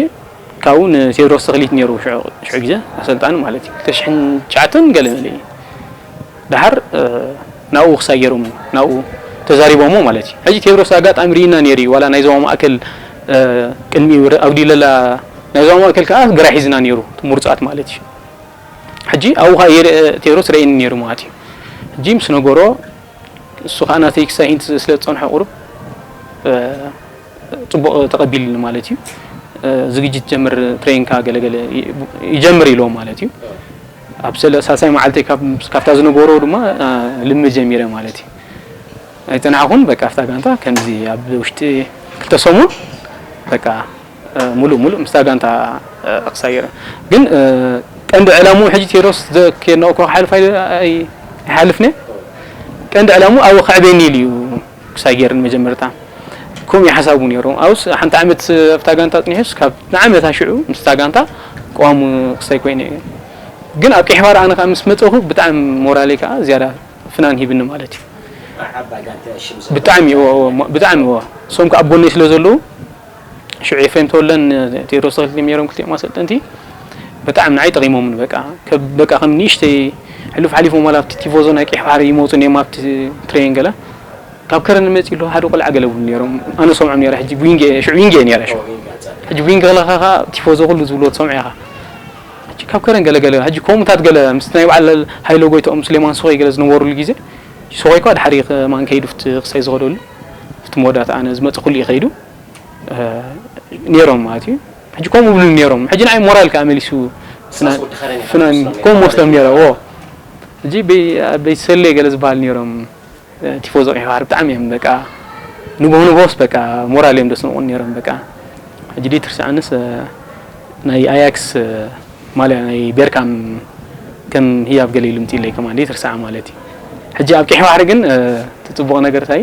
ካብኡ ንቴድሮስ ተኽሊት ኔሩ ሽዑ ሽዑ ግዜ ኣሰልጣኒ ማለት እዩ ክልተ ሽሕን ትሽዓተን ገለ መለ እዩ ደሓር ናብኡ ክሳይ ገይሮም ናብኡ ተዛሪቦሞ ማለት እዩ ሕጂ ቴድሮስ ኣጋጣሚ ርኢና ኔሩ እዩ ዋላ ናይ ዞባ ማእከል ቅድሚ ኣብ ዲለላ ናይ ዞባ ማእከል ከኣ ግራ ሒዝና ኔሩ ምሩጻት ማለት እዩ ሕጂ ኣብኡ ከኣ ቴድሮስ ረኢኒ ኔሩ ማለት እዩ ሕጂ ምስ ነገሮ እሱ ከኣ ናተይ ክሳይ ኢንቲ ስለ ዝጸንሖ ቁሩብ ጽቡቅ ተቀቢልኒ ማለት እዩ ዝግጅት ጀምር ትሬንካ ገለ ገለ ይጀምር ኢሎም ማለት እዩ ኣብ ሳልሳይ መዓልተይ ካብታ ዝነበሮ ድማ ልምድ ጀሚረ ማለት እዩ ኣይጸናሕኹን በቃ ኣብታ ጋንታ ከምዚ ኣብ ውሽጢ ክልተ ሰሙን በቃ ሙሉእ ሙሉእ ምስታ ጋንታ ክሳየረ ግን ቀንዲ ዕላሙ ሕጂ ቴሮስ ዘኬድናኦ እኳ ክሓልፍ ኣይሓልፍነ ቀንዲ ዕላሙ ኣብ ከዕቤኒ ኢሉ እዩ ምሳይ ጌርን መጀመርታ ከምኡ ኢዩ ሓሳቡ ኔሩ ኣብስ ሓንቲ ዓመት ኣብታ ጋንታ ኣጽኒሑስ ካብ ንዓመታ ሽዑ ምስታ ጋንታ ቀዋሚ ክስታይ ኮይኑ ኢዩ ግን ኣብ ቀይሕባሕሪ ኣነ ከኣ ምስ መጸኹ ብጣዕሚ ሞራለይ ከኣ ዝያዳ ፍናን ሂብኒ ማለት ኢዩ ብጣዕሚ እወ እወ ብጣዕሚ እወ እሶም ከኣ ኣብ ጎነይ ስለ ዘለዉ ሽዑ ኤፍሬም ተወልደን ቴድሮስ ተኽሊን ኔሮም ክልቲኦም ኣሰልጠንቲ በጣዕሚ ንዓይ ጠቒሞምኒ በቃ ከብ በቃ ከም ንእሽተይ ሕሉፍ ሓሊፎም ዋላ ኣብቲ ቲፎዞ ናይ ቀይሕ ባሕሪ ይመጹ ኔም ኣብቲ ትሬን ገለ ካብ ከረን መጺ ኣሎ ሓደ ቆልዓ ገለ ብሉ ኔሮም ኣነ ሰምዖም ኔረ ሕጂ ዊንግ ሽዑ ዊንግ ኔረ ሽዑ ሕጂ ዊንግ ከለኻ ከኣ ቲፎዞ ኩሉ ዝብሎ ትሰምዖ ኢኻ ሕጂ ካብ ከረን ገለ ገለ ሕጂ ከምኡታት ገለ ምስ ናይ በዓል ሃይለ ጎይትኦም ስሌማን ሶኸይ ገለ ዝነበሩሉ ግዜ ሶኸይ እኳ ድሓሪ ከማን ከይዱ ክሳይ ዝኸደሉ ፍቲ መወዳእታ ኣነ ዝመጸ ኩሉ እዩ ከይዱ ኔሮም ማለት እዩ ሕጂ ከምኡ ብሉ ኔሮም ሕጂ ንዓይ ሞራል ከኣ መሊሱ ከምኡ መስሎም ኔሮም ዎ ሕጂ ቤት ሰሌ ገለ ዝበሃል ኔሮም ቲፎዞ ቀይሕ ባሕሪ ብጣዕሚ እዮም በቃ ንግሆ ንግሆስ በቃ ሞራል እዮም ደስንቑን ኔሮም በቃ ሕጂ ድዩ ትርስዓንስ ናይ ኣያክስ ማልያ ናይ ቤርካም ከም ህያብ ገለ ኢሉ ምፂለይ ከማን ድዩ ትርስዓ ማለት እዩ ሕጂ ኣብ ቀይሕ ባሕሪ ግን ትፅቡቕ ነገር እንታይ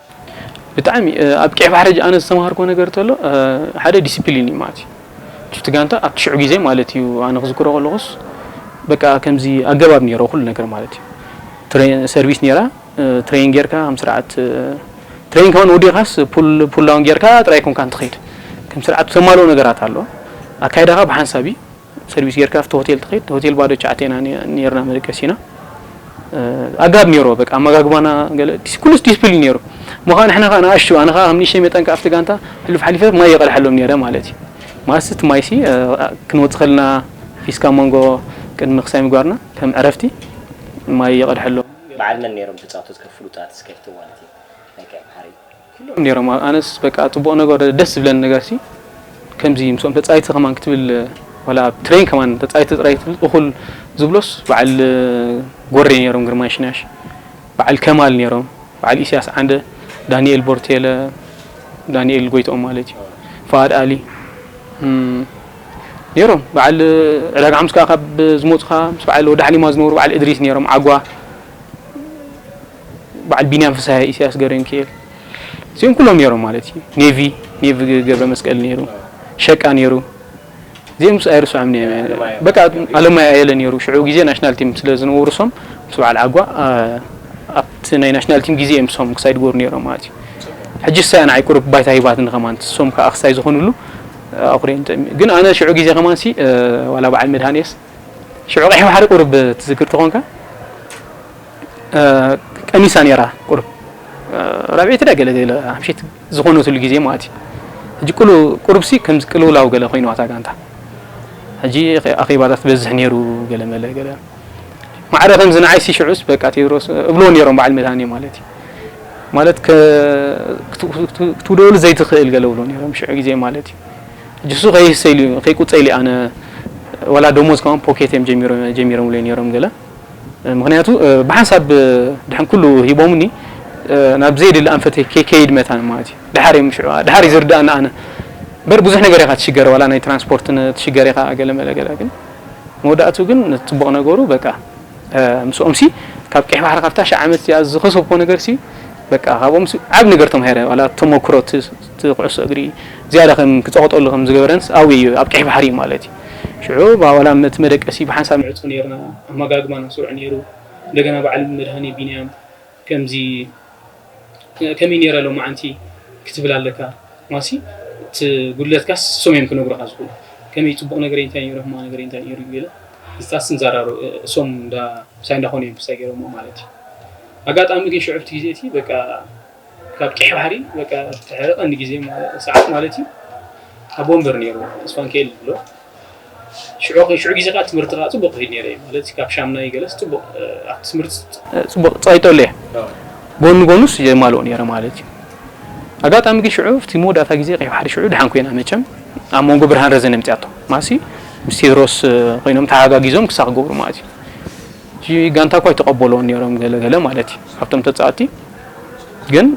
ብጣዕሚ ኣብ ቀይሕ ባሕሪ ሕጂ ኣነ ዝተማሃርክዎ ነገር ተሎ ሓደ ዲሲፕሊን እዩ ማለት እዩ ቹቲ ጋንታ ኣብቲ ሽዑ ግዜ ማለት እዩ ኣነ ክዝክሮ ከለኹስ በቃ ከምዚ ኣገባብ ነይሮ ኩሉ ነገር ማለት እዩ ሰርቪስ ነይራ ትሬን ጌርካ ከም ስርዓት ትሬን ከውን ወዲኻስ ፑላውን ጌርካ ጥራይ ኮንካ እንትኸይድ ከም ስርዓት ተማልኦ ነገራት ኣሎ ኣካይዳኻ ብሓንሳብ እዩ ሰርቪስ ጌርካ ኣብቲ ሆቴል ትኸይድ እቲ ሆቴል ባዶ ትሽዓተ ኢና ኔርና መደቀሲና ኣጋብ ኔርዎ በቃ ኣመጋግባና ገለ ኩሉስ ዲስፕሊን ኔሩ እሞ ከኣ ንሕና ከኣ ንኣሽቱ ኣነ ከኣ ከም ንእሽተይ መጠን ከኣ ኣብቲ ጋንታ ሕሉፍ ሓሊፈ ማይ የቐድሓሎም ኔረ ማለት እዩ ማለት እቲ ማይሲ ክንወጽእ ከለና ፊስካ መንጎ ቅድሚ ክሳይ ምግባርና ከም ዕረፍቲ ማይ የቐድሐሎም በዓል መን ኔሮም ተጻወትትካ ፍሉጣት እስከ ፍትዋልቲ ናይ ቀይ ባሕሪ? ኩሎም ኔሮም ኣነስ በቃ ጽቡቅ ነገር ደስ ዝብለኒ ነገር ሲ ከምዚ ምስኦም ተጻይተ ከማን ክትብል ዋላ ኣብ ትሬን ከማን ተጻይተ ጥራይ ክትብል እኩል ዝብሎስ በዓል ጎሬ ኔሮም ግርማይ ሽናሽ በዓል ከማል ኔሮም በዓል ኢስያስ ዓንደ ዳኒኤል ቦርቴለ ዳኒኤል ጎይትኦም ማለት እዩ ፋኣድ ኣሊ ኔሮም በዓል ዕዳጋ ሓሙስ ከኣ ካብ ዝሞጹ ከኣ ምስ በዓል ወዲ ሓሊማ ዝነበሩ በዓል እድሪስ ኔሮም ዓጓ በዓል ቢንያም ፍስሃ ኢስያስ ገብረሚካኤል እዚኦም ኩሎም ነይሮም ማለት እዩ ኔቪ ኔቪ ገብረ መስቀል ነይሩ ሸቃ ነይሩ እዚኦም ምስ ኣይርስዖም በቃ ኣለማይ ኣየለ ነይሩ ሽዑ ግዜ ናሽናል ቲም ስለ ዝነበሩ ሶም ምስ በዓል ዓጓ ኣብቲ ናይ ናሽናል ቲም ግዜ እዮም ሶም ክሳይ ድገሩ ነይሮም ማለት እዩ ሕጂ ሳያ ንዓይ ቁሩብ ባይታ ሂባትኒ ከማን ሶም ከዓ ክሳይ ዝኾኑሉ ኣኹሪየን ግን ኣነ ሽዑ ግዜ ከማንሲ ዋላ በዓል መድሃንየስ ሽዑ ቀይሕ ባሕሪ ቁሩብ ትዝክር ተኾንካ ቀኒሳ ነይራ ቁሩብ ራብዒቲ ዳ ገለ ገለ ሓምሸይቲ ዝኾነትሉ ግዜ ማለት እዩ ሕጂ ቅሉ ቁሩብሲ ከምዚ ቅልውላው ገለ ኮይኑዋ እታ ጋንታ ሕጂ ኣኼባታት ትበዝሕ ነይሩ ገለ መለ ገለ ማዕረ ከምዚ ንዓይሲ ሽዑስ በቃ ቴድሮስ እብልዎ ነይሮም በዓል መድሃኔ ማለት እዩ ማለት ክትውደሉ ዘይትኽእል ገለ እብልዎ ነይሮም ሽዑ ግዜ ማለት እዩ ጅሱ ከይህሰ ኢሉ ኢዩ ከይቁጸ ኢለ ኣነ ዋላ ደሞዝ ከማን ፖኬት ኢዮም ጀሚሮምለይ ኔሮም ገለ ምክንያቱ ብሓንሳብ ድሕን ኩሉ ሂቦምኒ ናብ ዘየድሊ ኣንፈተይ ከይከይድ መታን ማለት ኢዩ ድሓር ኢዮም ሽዑ ድሓር ኢዩ ዝርድኣኒ ኣነ በር ብዙሕ ነገር ኢካ ትሽገር ዋላ ናይ ትራንስፖርት ትሽገር ኢካ ገለ መለ ገለ ግን መወዳእቱ ግን ጽቡቅ ነገሩ በቃ ምስኦምሲ ካብ ቀይሕ ባሕሪ ካብታ ሺ ዓመት እዚኣ ዝከሰብኮ ነገርሲ በቃ ካብኦምሲ ዓቢ ነገር ተማሂረ ዋላ ተመክሮ እቲ ኩዕሶ እግሪ ዝያዳ ከም ክጸቕጠሉ ከም ዝገበረንስ ኣውይ እዩ፣ ኣብ ቀይሕ ባሕሪ እዩ ማለት እዩ። ሽዑ ዋላ እቲ መደቀሲ ብሓንሳብ ንዕጾ ኔርና፣ ኣመጋግባና ስሩዕ ኔሩ፣ እንደገና በዓል መድሃኔ ቢንያም ከምዚ ከምይ ኔረ ሎምዓንቲ ክትብል ኣለካ፣ ዋሲ እቲ ጉድለትካስ እሶም እዮም ክነግሩኻ ዝኽእሉ፣ ከመይ ጽቡቕ ነገረይ እንታይ ኔሩ ሕማቕ ነገረይ እንታይ ኔሩ እዩ ገለ ምስታስ ንዛራረብ፣ እሶም እንዳ ምሳይ እንዳኾኑ እዮም ምሳይ ጌሮሞ ማለት እዩ፣ ኣጋጣሚ ግን ሽዑ ኣብቲ ግዜ እቲ በቃ። ካብ ቂሕ ባሕሪ በቃ ፍትሐ ቀንዲ ግዜ ሰዓት ማለት እዩ ኣብ ወንበር ነይሩ ተስፋንከኤል ዝብሎ ሽዑ ሽዑ ግዜ ከዓ ትምህርቲ ከዓ ፅቡቅ ክሄድ ነይረ ማለት ካብ ሻምናይ ገለስ ፅቡቅ ኣብ ትምህርቲ ፅቡቅ ፀይጠሉ እየ ጎኑ ጎኑስ የማልኦ ነይረ ማለት እዩ ኣጋጣሚ ግን ሽዑ እቲ መወዳእታ ግዜ ቀይ ባሕሪ ሽዑ ድሓን ኮይና መቸም ኣብ መንጎ ብርሃን ረዘን የምፅኣቶ ማሲ ምስ ቴድሮስ ኮይኖም ተሓጋጊዞም ክሳብ ክገብሩ ማለት እዩ እቲ ጋንታ እኳ ኣይተቐበሎን ነይሮም ገለ ገለ ማለት እዩ ካብቶም ተፃወቲ ግን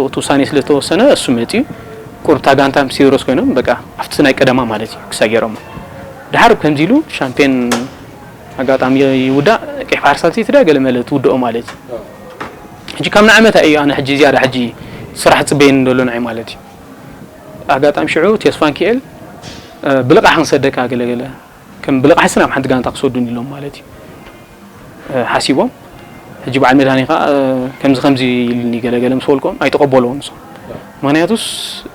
እቲ ውሳኔ ስለ ዝተወሰነ እሱ መፅዩ ቁርብታ ጋንታ ምስ ሲሮስ ኮይኖም በቃ ኣብቲ ናይ ቀደማ ማለት እዩ ክሳይ ገይሮሞ ድሓር ከምዚ ኢሉ ሻምፒዮን ኣጋጣሚ ይውዳእ ቀይ ባሕሪ ሳልሰይቲ ድያ ገለ መለ ትውድኦ ማለት እዩ ሕጂ ካብ ንዓመታ እዩ ኣነ ሕጂ ዝያዳ ሕጂ ስራሕ ፅበየኒ ደሎ ንዓይ ማለት እዩ ኣጋጣሚ ሽዑ ቴስፋንኪኤል ብልቓሕ ክንሰደካ ገለገለ ከም ብልቓሕሲ ናብ ሓንቲ ጋንታ ክሰዱኒ ኢሎም ማለት እዩ ሓሲቦም ሕጂ በዓል መድሃኔ ከኣ ከምዚ ከምዚ ኢሉኒ ገለ ገለ ምስ በልክዎም ኣይተቐበልዎን ንሶም ምክንያቱስ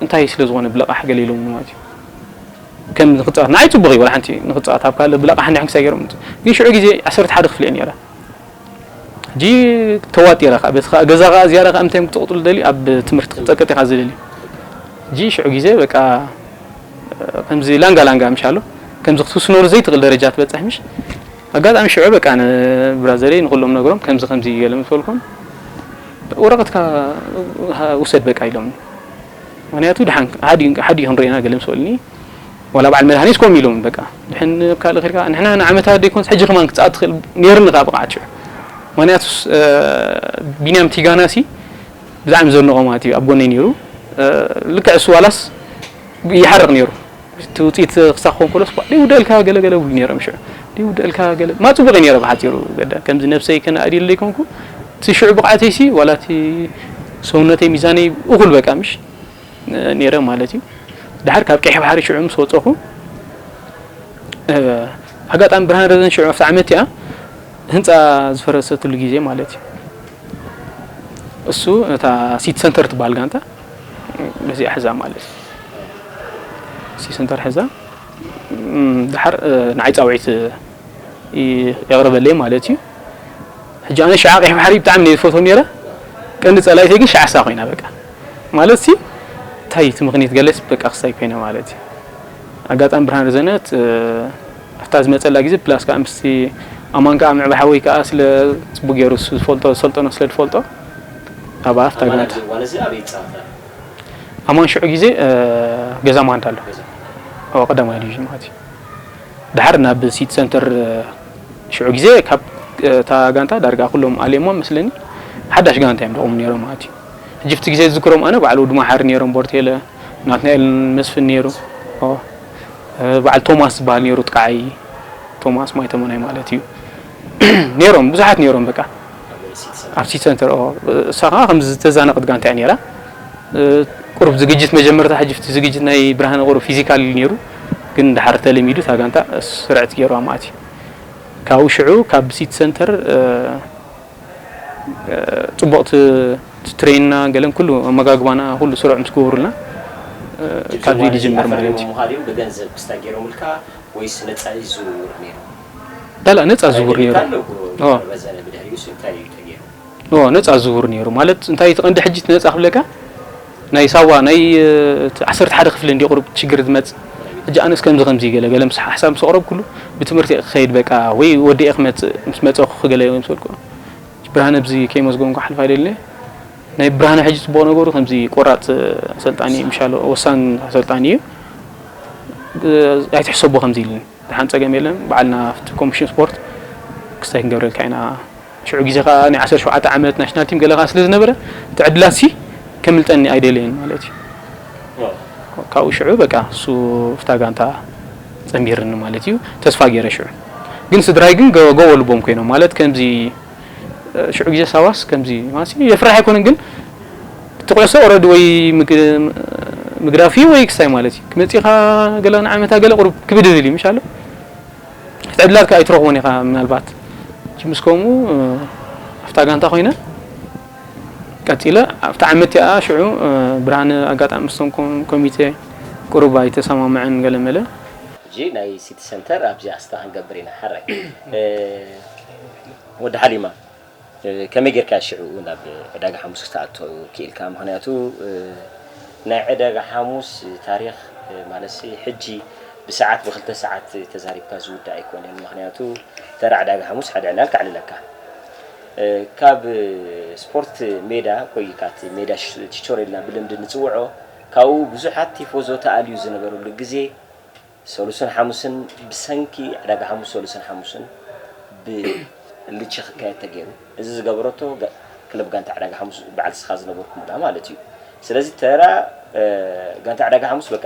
እንታይ ስለ ዝኾነ ብልቓሕ ገለ ኢሎምኒ ማለት እዩ ከም ንክጻወት ንዓይ ጽቡቕ እዩ ወላ ሓንቲ ንክጻወት ኣብ ካልእ ብልቓሕ እንድሕን ክሳይ ገይሮም ግን ሽዑ ግዜ ዓሰርተ ሓደ ክፍሊ እየ ነይረ ሕጂ ተዋጢራ ከኣ በቲ ከኣ ገዛ ከኣ ዝያዳ ከኣ እንታይ ክትቅጥሉ ደልዩ ኣብ ትምህርቲ ክትጸቅጥ ኢኻ ዝደልዩ ሕጂ ሽዑ ግዜ በቃ ከምዚ ላንጋ ላንጋ ምሻሎ ከምዚ ክትውስነሉ ዘይትኽእል ደረጃ ትበጽሕ ምሽ ኣጋጣሚ ሽዑ በቃ ንብራዘረይ ንኹሎም ነግሮም ከምዚ ከምዚ ገለ ምስ በልኩም ወረቐትካ ውሰድ በቃ ኢሎምኒ ምክንያቱ ድሓን ሓዲ ክንሪኤና ገለ ምስ በሉኒ ዋላ ባዓል መድሃኒት ኮም ኢሎም በቃ ድሕን ኣብ ካልእ ከድካ ንሕና ንዓመታ ደይኮንስ ሕጂ ከማን ክትጻኣት ትክእል ነይርኒ ከኣ ብቅዓት ሽዑ ምክንያቱስ ቢንያም ቲጋና ሲ ብጣዕሚ ዘድንቆ ማለት እዩ ኣብ ጎነይ ነይሩ ልክዕ እሱ ዋላስ ይሓርቅ ነይሩ እቲ ውጽኢት ክሳብ ክኾን ከሎስ ኳ ደይውደልካ ገለ ገለ ይብሉ ነይሮም ሽዑ ደይውደልካ ገለ ማ ጽቡቅ እዩ ነይረ ብሓጺሩ ገዳ ከምዚ ነብሰይ ከነኣድየሉ ደይኮንኩ እቲ ሽዑ ብቅዓተይሲ ዋላ እቲ ሰውነተይ ሚዛነይ እኩል በቃ ምሽ ኔረ ማለት እዩ ድሓር ካብ ቀይሕ ባሕሪ ሽዑ ምስ ወጸኹ ኣጋጣሚ ብርሃን ረዘን ሽዑ ኣብቲ ዓመት እቲኣ ህንፃ ዝፈረሰትሉ ግዜ ማለት እዩ እሱ ነታ ሲቲ ሰንተር ትበሃል ጋንታ በዚኣ ሕዛ ማለት እዩ ሲቲ ሰንተር ሕዛ ድሓር ንዓይ ፃውዒት የቕርበለይ ማለት እዩ ሕጂ ኣነ ሽዓ ቀይሕ ባሕሪ ብጣዕሚ ነይ ዝፈትዎ ነይረ ቀንዲ ጸላይተይ ግን ሽዓ እሳ ኮይና በቃ ማለት ሲ እንታይ እቲ ምኽንያት ገለስ በቃ ክሳይ ኮይነ ማለት እዩ ኣጋጣሚ ብርሃን ርዘነት ኣብታ ዝመጸላ ግዜ ፕላስ ከዓ ምስቲ ኣማን ከዓ ምዕባ ሓወይ ከዓ ስለ ፅቡቅ ገይሩ ዝፈልጦ ዝሰልጠኖ ስለ ዝፈልጦ ኣብ ኣፍታ ግናት ኣማን ሽዑ ግዜ ገዛ ማንዳ ኣሎ ቀዳማይ ዲቪዥን ማለት እዩ ደሓር ናብ ሲቲ ሰንተር ሽዑ ግዜ ካብ እታ ጋንታ ዳርጋ ኩሎም ኣልየሞም መስለኒ ሓዳሽ ጋንታ እዮም ደቑሞም ኔሮም ማለት እዩ ሕጂ ኣብቲ ግዜ ዝዝክሮም ኣነ በዓል ወዲ ማሓሪ ኔሮም ቦርቴለ ናትናኤል መስፍን ኔሩ በዓል ቶማስ ዝብሃል ኔሩ ጥቃዓይ ቶማስ ማይ ተመናይ ማለት እዩ ኔሮም ብዙሓት ኔሮም በቃ ኣብ ሲቲ ሰንተር እሳ ከዓ ከምዚ ዝተዛነቐት ጋንታ እያ ኔራ ቁሩብ ዝግጅት መጀመርታ ሕጂ ዝግጅት ናይ ብርሃነ ቁሩብ ፊዚካል እዩ ኔሩ ግን ድሓር ተለሚዱ እታ ጋንታ ስርዕት ጌሩ ኣማእትዩ ካብኡ ሽዑ ካብ ሲቲ ሰንተር ጽቡቕ ትሬንና ገለን ኩሉ ኣመጋግባና ኩሉ ስሩዕ ምስ ገበሩልና ካብዚ ዝጅምር ማለት እዩ። ብገንዘብ ክስታ ገይሮምልካ ወይስ ነጻ እዩ ዝውውር ነይሩ? ላላ ነጻ ዝውውር ነይሩ። ን ነጻ ዝቡር ኔሩ ማለት እንታይ እቲ ቀንዲ ሕጂ እቲ ነጻ ክብለካ ናይ ሳዋ ናይ እቲ ዓሰርተ ሓደ ክፍሊ እንድዩ ቁሩብ ሽግር ዝመጽ ሕጂ ኣነስ ከምዚ ከምዚ ገለ ገለ ምስ ሓሳብ ምስ ኣቅረብኩሉ ብትምህርቲ እየ ክከይድ በቃ ወይ ወዲኤ ክመጽእ ምስ መጸኩ ክገለ እየ ዝመሰልኩ ብርሃነ ብዚ ከይመስገንኩ ክሓልፍ ኣይደልን እየ ናይ ብርሃነ ሕጂ ጽቡቅ ነገሩ ከምዚ ቆራጽ ኣሰልጣኒ ምሻሎ ወሳን ኣሰልጣኒ እዩ ኣይትሕሰቦ ከምዚ ኢልኒ ደሓን ጸገም የለን በዓልና ኣብቲ ኮሚሽን ስፖርት ክስታይ ክንገብረልካ ኢና ሽዑ ግዜ ከኣ ናይ ዓሰርተ ሸውዓተ ዓመት ናሽናል ቲም ገለ ከኣ ስለ ዝነበረ እቲ ዕድላትሲ ከምልጠኒ ኣይደለየን ማለት እዩ። ካብኡ ሽዑ በቃ እሱ እፍታ ጋንታ ጸንቢርኒ ማለት እዩ። ተስፋ ገይረ ሽዑ ግን ስድራይ ግን ጎቦ ልቦም ኮይኖም ማለት ከምዚ ሽዑ ግዜ ሳዋስ ከምዚ ማሲ የፍርሕ ኣይኮነን ግን እቲ ኩዕሶ ኦረዲ ወይ ምግዳፍ እዩ ወይ ክስታይ ማለት እዩ። መጺኻ ገለ ንዓመታ ገለ ቁሩብ ክብድብድ እዩ ምሽ ኣሎ ዕድላትካ ኣይትረኽቦን ኢኻ ምናልባት ምስ ከምኡ ኣብታ ጋንታ ኮይነ ቀፂለ ኣብቲ ዓመት እቲኣ ሽዑ ብርሃነ ኣጋጣሚ ምስቶም ኮሚቴ ቅሩብ ኣይተሰማምዐን ገለመለ ሕጂ ናይ ሲቲ ሰንተር ኣብዚኣ ስታ ክንገብር ኢና ሓራይ ወዲ ሓሊማ ከመይ ጌርካ ሽዕኡ ናብ ዕዳጋ ሓሙስ ክትኣቱ ኪኢልካ? ምኽንያቱ ናይ ዕዳጋ ሓሙስ ታሪኽ ማለትሲ ሕጂ ብሰዓት ብክልተ ሰዓት ተዛሪብካ ዝውዳእ ኣይኮነን ምኽንያቱ ተራ ዕዳጋ ሓሙስ ሓደ ዕላል ከዕልለካ ካብ ስፖርት ሜዳ ኮይካ እቲ ሜዳ ቺቾሬ ኢልና ብልምዲ ንጽውዖ ካብኡ ብዙሓት ቲፎዞ ተኣልዩ ዝነበረሉ ግዜ ሰሉስን ሓሙስን ብሰንኪ ዕዳጋ ሓሙስ ሰሉስን ሓሙስን ብ ልቺ ክካየድ ተገይሩ እዚ ዝገበረቶ ክለብ ጋንታ ዕዳጋ ሓሙስ በዓል ስኻ ዝነበርኩምላ ማለት እዩ ስለዚ ተራ ጋንታ ዕዳጋ ሓሙስ በቃ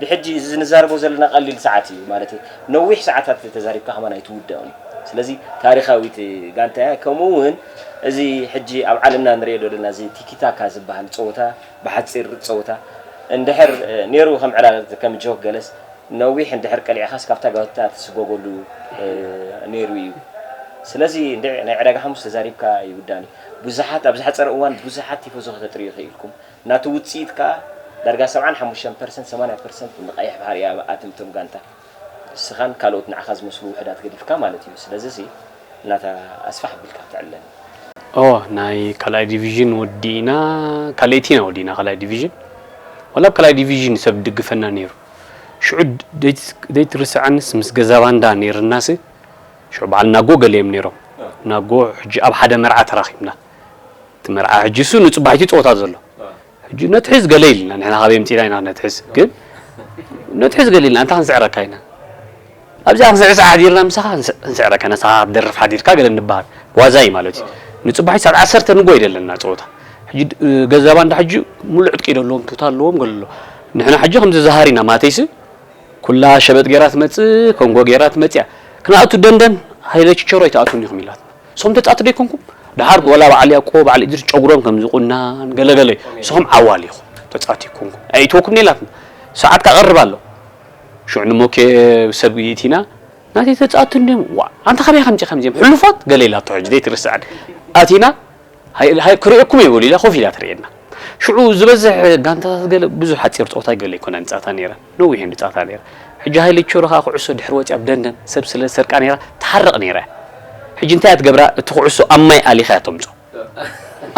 ብሕጂ እዚ ንዛረቦ ዘለና ቀሊል ሰዓት እዩ ማለት ነዊሕ ሰዓታት ተዛሪብካ ከማን ኣይትውደኦን ስለዚ ታሪኻዊት ጋንታ እያ ከምኡ እውን እዚ ሕጂ ኣብ ዓለምና ንሪኦ ዘለና እዚ ቲኪታካ ዝበሃል ፀወታ ብሓጺር ጸወታ እንድሕር ኔሩ ከም ዕላል ከም ጆክ ገለስ ነዊሕ እንድሕር ቀሊዕኻስ ካብታ ጋንታ ትስጎገሉ ኔሩ ኢዩ ስለዚ እንድዒ ናይ ዕዳጋ ሓሙስ ተዛሪብካ ይውዳን ኢዩ ብዙሓት ኣብ ዝሓጸረ እዋን ብዙሓት ቲፎዞ ከተጥርዩ ኪኢልኩም ናቱ ውጽኢት ከኣ ዳርጋ ሰብዓን ሓሙሽተን ፐርሰንት ሰማንያ ፐርሰንት ንቀይሕ ባሕሪ ኢያ ኣትምቶም ጋንታ ንስኻን ካልኦት ንዓኻ ዝመስሉ ውሑዳት ገዲፍካ ማለት እዩ። ስለዚሲ ናታ ኣስፍሕ ኣቢልካ ክትዕለል። ኦህ ናይ ካልኣይ ዲቪዥን ወዲእና ካልኣይቲ ኢና ወዲእና ካልኣይ ዲቪዥን ወላ ኣብ ካልኣይ ዲቪዥን ሰብ ድግፈና ኔሩ ሽዑ ደይትርስዐንስ ምስ ገዛባንዳ ኔርናሲ ሽዑ በዓል ናጎ ገለ እዮም ኔሮም ናጎ ሕጂ ኣብ ሓደ መርዓ ተራኺብና እቲ መርዓ ሕጂሱ ንጽባሒቱ ይጸወታ ዘሎ ሕጂ ነትሕዝ ገለ ኢልና ንሕና ካበይ ኣምጺእና ኢና ክነትሕዝ ግን ነትሕዝ ገለ ኢልና ኣንታ ክንስዕረካ ኢና ኣብዚኣ ክንስዕስዕ ሓዲርና ምሳኻ ክንስዕረካ ኢና ሳኻ ክትደርፍ ሓዲርካ ገለ ንበሃል ዋዛ እዩ ማለት እዩ ንጽባሒት ሰዓት ዓሰርተ ንጎይ ደለና ጸወታ ሕጂ ገዛ ባንዳ ሕጂ ሙሉእ ዕጥቂ ደለዎም ቱታ ኣለዎም ገለ ኣሎ ንሕና ሕጂ ከምዚ ዝሃር ኢና ማተይሲ ኩላ ሸበጥ ጌራ ትመጽእ ኮንጎ ጌራ ትመጽያ ክንኣቱ ደንደን ሃይለ ችቸሮ ኣይትኣቱን ኢኹም ኢላትና ንስኹም ተጻቲ ዶ ኣይኮንኩም ደሓር ወላ በዓል ያቆ በዓል ኢድሪስ ጨጉሮም ከም ዝቁናን ገለ ገለ ንስኹም ዓዋል ኢኹም ተጻቲ ኣይኮንኩም ኣይእትወኩም ኔላትና ሰዓት ካቐርብ ኣሎ ሽዑ ንሞኬ ሰብ ይእቲና ናተይ ተጻቲ እንድዮም ዋእ ኣንታ ካበይ ከምጺ ከምዚኦም ሕሉፋት ገለ ኢላቶ ሕጂ ዘይትርስዐን ኣቲና ሃይ ሃይ ክርእየኩም እየ በሉ ኢላ ኮፍ ኢላ ትርእየና ሽዑ ዝበዝሕ ጋንታታት ገለ ብዙሕ ሓጺር ጸወታ ገለ ኣይኮነን ጻታ ነይራ ነዊሕ እንዲ ጻታ ነይራ ሕጂ ሃይ ለቸሮ ከኣ ኩዕሶ ድሕሪ ወጺኣ ብደንደን ሰብ ስለ ዝሰርቃ ነይራ ትሓርቕ ነይራ እያ ሕጂ እንታይ እያ ትገብራ እቲ ኩዕሶ ኣብ ማይ ኣሊኻ እያ ተምጾ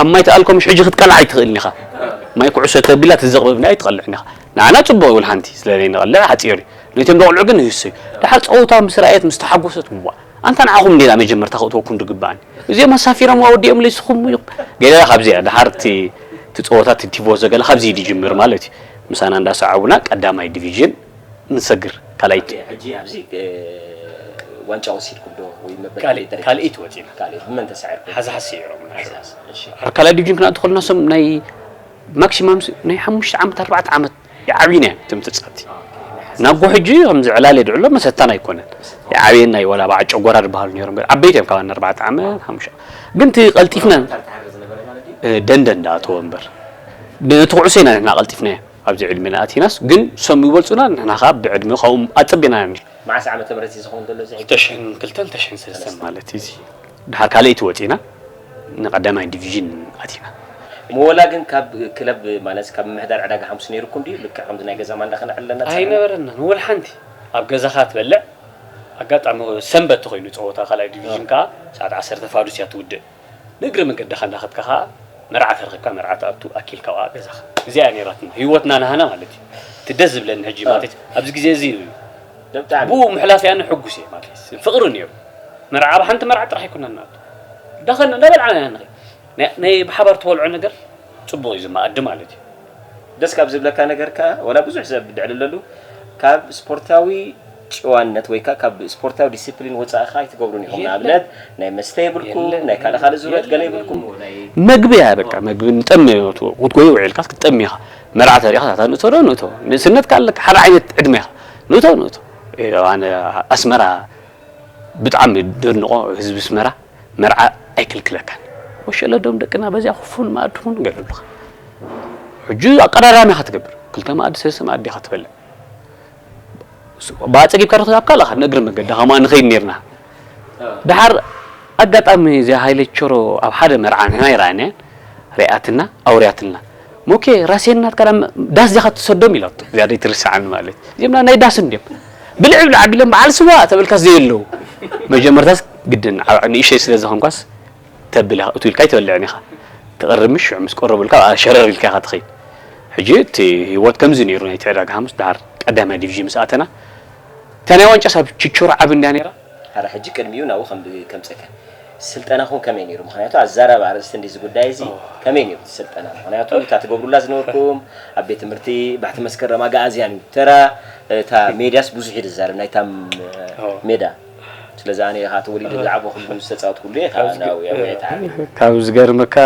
ኣብ ማይ ትኣልኮ ምሽ ሕጂ ክትቀልዓ ኣይትኽእልን ኢኻ ማይ ኩዕሶ ተቢላ ትዘቕብብ ናይ ትቐልዕን ኢኻ ንዓና ጽቡቕ ይብል ሓንቲ ስለ ዘይንቐልዕ ሓጺር እዩ ነቶም ደቕልዑ ግን ይህሰዩ ደሓር ጸወታ ምስ ረኣየት ምስ ተሓጎሰት ዋእ ኣንታ ንዓኹም እንድየ ናብ መጀመርታ ክእትወኩም ዝግባኣኒ እዚኦም ኣሳፊሮም ኣወዲኦምለይ ንስኹም ኢኹም ገለ ካብዚ እያ ደሓር እቲ እቲ ጸወታ እቲ ቲቮዞ ገለ ካብዚ ዝጅምር ማለት እዩ ምሳና እንዳሰዓቡና ቀዳማይ ዲቪዥን ንሰግር ካልኣይ ሕጂ ኣብዚ ዋንጫ ወሲድኩም ዶ ወይ መበል ካልኣይ ደረጃ ካልኣይቲ ወጺና ካልኣይ ብመን ተሳዒርኩም ሓዝሓዝ ስዒሮም ሓዝሓዝ እሺ ካልኣይ ዲቪዥን ክንኣቱ ከለና ሶም ናይ ማክሲማም ናይ ሓሙሽተ ዓመት ኣርባዕተ ዓመት ይዓብዩን እየን እቶም ተጻብቲ ናብጎ ሕጂ ከምዚ ዕላል የድዕሎ መሰታን ኣይኮነን ይዓብየን ናይ ወላ በዓ ጨጎራ ድበሃሉ ነሮም ገለ ዓበይቲ እዮም ካብ ኣርባዕተ ዓመት ሓሙሽተ ግን እቲ ቀልጢፍና ደንደን ዳኣተወ እምበር ነቲ ኩዕሶ ኢና ንሕና ቀልጢፍናዮ ኣብዚ ዕድሜና ኣቲናስ ግን ሶም ይበልጹና ንሕና ከዓ ብዕድመ ካብኦም ኣጸቢና ኢና መዓስ ዓመተ ምህረት እዩ ዝኸውን ዘሎ እዚ ሕጂ ክልተሽሕን ክልተን ክልተሽሕን ሰለስተን ማለት እዩ እዚ ድሓር ካልኣይቲ ወጺና ንቀዳማይ ዲቪዥን ኣቲና። እሞ ወላ ግን ካብ ክለብ ማለትስ ካብ ምምሕዳር ዕዳጋ ሓሙስ ነይሩኩም ድዩ ልክዕ ከምዚ ናይ ገዛ ማንዳ ከነዕል ኣለና ተሳዒርና? ኣይነበረናን ወላ ሓንቲ ኣብ ገዛኻ ትበልዕ ኣጋጣሚ ሰንበት ተኾይኑ ጸወታ ካልኣይ ዲቪዥን ከኣ ሰዓት ዓሰርተ ፋዱስ እያ ትውድእ ንእግሪ መንገድኻ እንዳኸድካ ከኣ መርዓ ተረኺብካ መርዓ ትኣቱ ኣኪልካ ከኣ ገዛኻ እዚኣ እያ ነይራትና ሂወትና ናሃና ማለት እዩ እቲ ደስ ዝብለኒ ሕጂ ማለት ኣብዚ ግዜ እዚ እዩ ብኡ ምሕላፍ ያነ ሕጉስ እየ ማትሊስ ፍቅሪ ነይሩ መርዓ ኣብ ሓንቲ መርዓ ጥራሕ ኣይኮናን ናቱ ዳኸን እንዳበልዓና ኢና ንኸ ናይ ብሓባር ተወልዖ ነገር ፅቡቅ እዩ ዝመኣዲ ማለት እዩ ደስ ካብ ዝብለካ ነገር ከዓ ወላ ብዙሕ ሰብ ድዕልለሉ ካብ ስፖርታዊ ጭዋነት ወይ ከዓ ካብ ስፖርታዊ ዲሲፕሊን ወፃኢ ከዓ ኣይትገብሩን ኢኹም ንኣብነት ናይ መስተ የብልኩም ናይ ካልእ ካልእ ዙረት ገለ የብልኩም መግቢ እያ በቃ መግቢ ንጠሚ ክትጎይ ውዒልካስ ክትጠሚ ኢኻ መርዓ ተሪእኻስ ኣታ ንእቶ ዶ ንእቶ ንእስነትካ ኣለካ ሓደ ዓይነት ዕድመ ኢኻ ንእቶ ንእቶ ኣነ ኣስመራ ብጣዕሚ ደንቆ ህዝቢ ኣስመራ መርዓ ኣይክልክለካን ወሸለዶም ደቅና በዚያ ክፉን መኣዲ ኩን ገለሉካ ሕጂ ኣቀዳዳሚ ኢኻ ትገብር ክልተ መኣዲ ሰለስተ መኣዲ ኢኻ ትበልዕ ብኣጸጊብካ ዶ ክዛብካ ኣለኻ ንእግሪ መገዲ ከማ ንኸይድ ነርና ደሓር ኣጋጣሚ እዚኣ ሃይለ ቸሮ ኣብ ሓደ መርዓ ንሕና ይርኣየና ሪኣትና ኣውርያትልና ሞኬ ራሴን ናትካ ናብ ዳስ ዲኻ ትሰዶም ኢላቶ እዚኣ ደይትርስዓኒ ማለት እዚኦም ናይ ዳስ እንድዮም ብልዕ ብልዕ ኣቢሎም በዓል ስዋ ተበልካስ ዘየለዉ መጀመርታስ ግድን ንእሸይ ስለ ዝኾንኳስ ተብል ኢኻ እቱ ኢልካ ኣይትበልዕን ኢኻ ትቕርብ ምሽ ሽዑ ምስ ቆረቡልካ በኣ ሸረር ኢልካ ኢኻ ትኸይድ ሕጂ እቲ ህይወት ከምዚ ነይሩ ናይቲ ዕዳጋ ሓሙስ ደሓር ቀዳማይ ዲቪዥን ምስ ኣተና እታ ናይ ዋንጫ ሳብ ችቾሮ ዓቢ እንድያ ነይራ። ኣረ ሕጂ ቅድሚኡ ናብኡ ከምጽእካ ስልጠናኩም ከመይ ነይሩ ምክንያቱ ኣዛራቢ ኣርእስቲ እንድዩ እዚ ጉዳይ እዚ ከመይ ነይሩ እቲ ስልጠና ምክንያቱ እታ ትገብሩላ ዝነበርኩም ኣብ ቤት ትምህርቲ ባሕቲ መስከረም ኣጋኣዝያን እዩ ተራ እታ ሜድያስ ብዙሕ እዩ ዝዛረብ ናይታ ሜዳ ስለዚ ኣነ ከኣ ተወሊደ ዝዓበኹሉ ዝተጻወትኩሉ እየ ከኣ ናብኡ እየ ኣውያይ ተዓብየ ካብ ዝገርመካ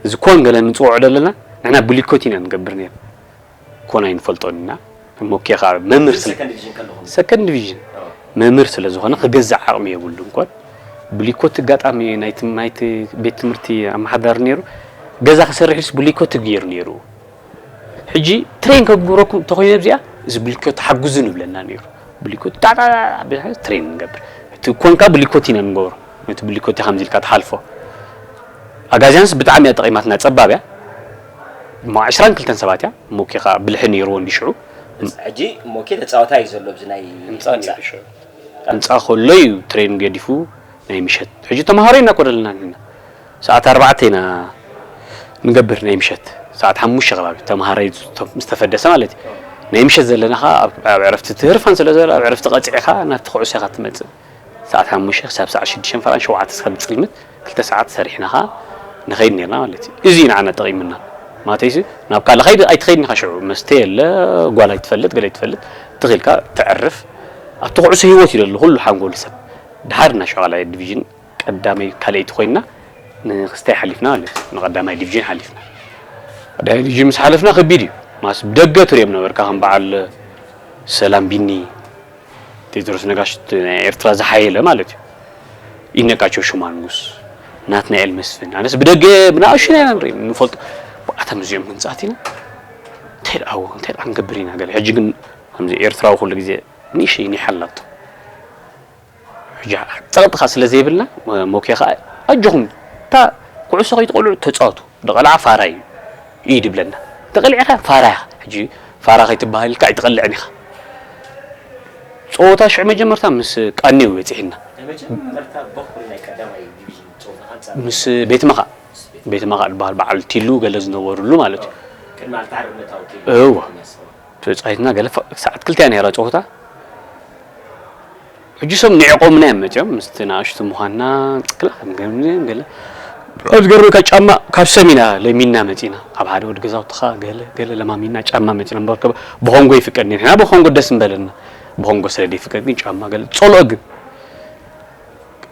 እዚ ኮን ገለ ንጽውዖ ደለና ንሕና ብሊኮት ኢና ንገብር ነይርና ኮን ኣይንፈልጦን ኢና እሞ ኬኻ መምህር ስለ ሰከንድ ዲቪዥን ከለኹም ሰከንድ ዲቪዥን መምህር ስለ ዝኾነ ክገዝእ ዓቕሚ የብሉን ኮን ብሊኮቲ ኣጋጣሚ ናይቲ ናይቲ ቤት ትምህርቲ ኣመሓዳሪ ነይሩ ገዛ ክሰርሕ ኢሉስ ብሊኮቲ ገይሩ ነይሩ ሕጂ ትሬን ከግብረኩም እንተኾይነ ብዚኣ እዚ ብሊኮቲ ሓግዙ ንብለና ነይሩ ብሊኮቲ ጣዕጣ ትሬን ንገብር እቲ ኮንካ ብሊኮቲ ኢና ንገብሮ ነቲ ብሊኮቲ ከምዚ ኢልካ ትሓልፎ ኣጋዚያንስ ብጣዕሚ እያ ጠቒማትና ጸባብ እያ እሞ ዕስራን ክልተን ሰባት እያ ሞኬ ከኣ ብልሒ ኔርዎ እንድዩ ሽዑ። ህንጻ ሕጂ ሞኬ ተጻዋታይ እዩ ዘሎ ኣብዚ ናይ ህንጻ ኔሩ ሽዑ። ህንጻ ከሎ እዩ ትሬን ገዲፉ ናይ ምሸት ሕጂ ተማሃሮ ኢና እኮ ደለና ንሕና ሰዓት ኣርባዕተ ኢና ንገብር ናይ ምሸት ሰዓት ሓሙሽተ ከባቢ ተማሃራይ ምስ ተፈደሰ ማለት እዩ ናይ ምሸት ዘለና ከኣ ኣብ ዕረፍቲ ትህርፋን ስለ ዘሎ ኣብ ዕረፍቲ ቀጺዕካ ናብቲ ኩዕሶ ኢኻ ትመጽእ። ሰዓት ሓሙሽተ ክሳብ ሰዓት ሽዱሽተ ፈረቓን ሸውዓተ ክሳብ ዝጽልምት ክልተ ሰዓት ሰሪሕና ከኣ ንኸይድ ኔርና ማለት እዩ። እዚ እዩ ንዓና ጠቒሙና። ማለተይሲ ናብ ካልእ ከይዲ ኣይትኸይድን ኢኻ ሽዑ። መስተ የለ፣ ጓል ኣይትፈልጥ፣ ገለ ኣይትፈልጥ፣ ትኽ ኢልካ ተዕርፍ። ኣብቲ ኩዕሶ ህይወት እዩ ዘሎ ኩሉ ሓንጎል ሰብ። ደሓር ኢና ሽዑ ካልኣይ ዲቪዥን ቀዳመይ ካልኣይቲ ኮይንና ንክስታይ ሓሊፍና ማለት እዩ። ንቀዳማይ ዲቪዥን ሓሊፍና። ቀዳማይ ዲቪዥን ምስ ሓለፍና ከቢድ እዩ። ማለትስ ብደገ ትርእዮም ነበርካ ከም በዓል ሰላም ቢኒ፣ ቴድሮስ ነጋሽ እቲ ናይ ኤርትራ ዝሓየለ ማለት እዩ። ይድነቃቸው ሽማንጉስ፣ ናትናኤል መስፍን ኣነስ ብደገ ብንኣሽቱ ኢና ንርኢ ንፈልጦ ብኣቶም እዚኦም ክንጻት ኢና እንታይ ደኣ ወ እንታይ ደኣ ክንገብር ኢና ገለ ሕጂ ግን ከምዚ ኤርትራዊ ኩሉ ግዜ ንእሽተይ ኒሕ ኣላቶ ሕጂ ጸቕጥኻ ስለ ዘይብልና ሞኬ ከኣ ኣጆኹም እታ ኩዕሶ ከይትቆልዑ ተጻወቱ ድቘልዓ ፋራ እዩ ኢዩ ድብለና ተቘሊዕካ ፋራ ኢኻ ሕጂ ፋራ ከይትብሃል ኢልካ ኣይትቘልዕን ኢኻ ጸወታ ሽዑ መጀመርታ ምስ ቃኒ እዩ በጺሒና ንመጀመርታ በዅሪ ናይ ቀዳማይ ዲቪዥን ጸወታ ኣንጻር ምስ ቤት መኻእ ቤት መኻእ ድብሃል በዓል ቲሉ ገለ ዝነበርሉ ማለት እዩ ቅድሚ ኣቲ ሓርነታዊ ቲሉ እወ ተጻዊትና ገለ ሰዓት ክልተ እያ ነይራ ጸወታ ሕጂ ሶም ንዒቆምና ኢዮም መቸም ምስቲ ናኣሽቱ ምኳንና ክላ ገለ ገለ ኣብ ዝገርመካ ጫማ ካብ ሰም ኢና ለሚንና መጺና ካብ ሓደ ወዲ ገዛውትኻ ገለ ገለ ለማሚንና ጫማ መጺና እምበር ከ ብኮንጎ ይፍቀድ ንሕና ብኮንጎ ደስ ምበለና ብኮንጎ ስለ ዘይፍቀድ ግን ጫማ ገለ ጸልኦ ግን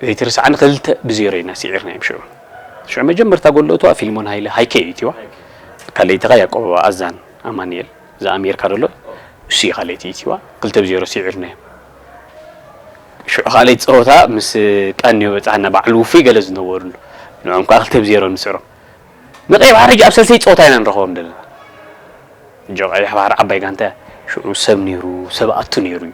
ዘይትርስዓኒ ክልተ ብዜሮ ኢና ስዒርና ኢዮም ሽዑ ሽዑ መጀመርታ ጎል እትዋ ፊልሞን ሃይለ ሃይከ ኢዩ እትዋ ካልኣይቲ ከኣ ያቆብ ኣዛን ኣማንኤል ዘኣሜርካ ደሎ እሱ እዩ ካልኣይቲ እቲዋ ክልተ ብ ዜሮ ሲዒርናዮም ሽዑ ካልኣይቲ ጸወታ ምስ ቀንዮ በጻሕና ባዕሉ ውፉይ ገለ ዝነበርሉ ንዕኦም ከኣ ክልተ ብ ዜሮ ንስዕሮም ንቀይ ባሕሪ ሕጂ ኣብ ሰልሰይ ጸወታ ኢና ንረኽቦም ደለና ጆ ቀይሕ ባሕሪ ዓባይ ጋንታ እያ ሽዑ ሰብ ነይሩ ሰብ ኣቱ ነይሩ እዩ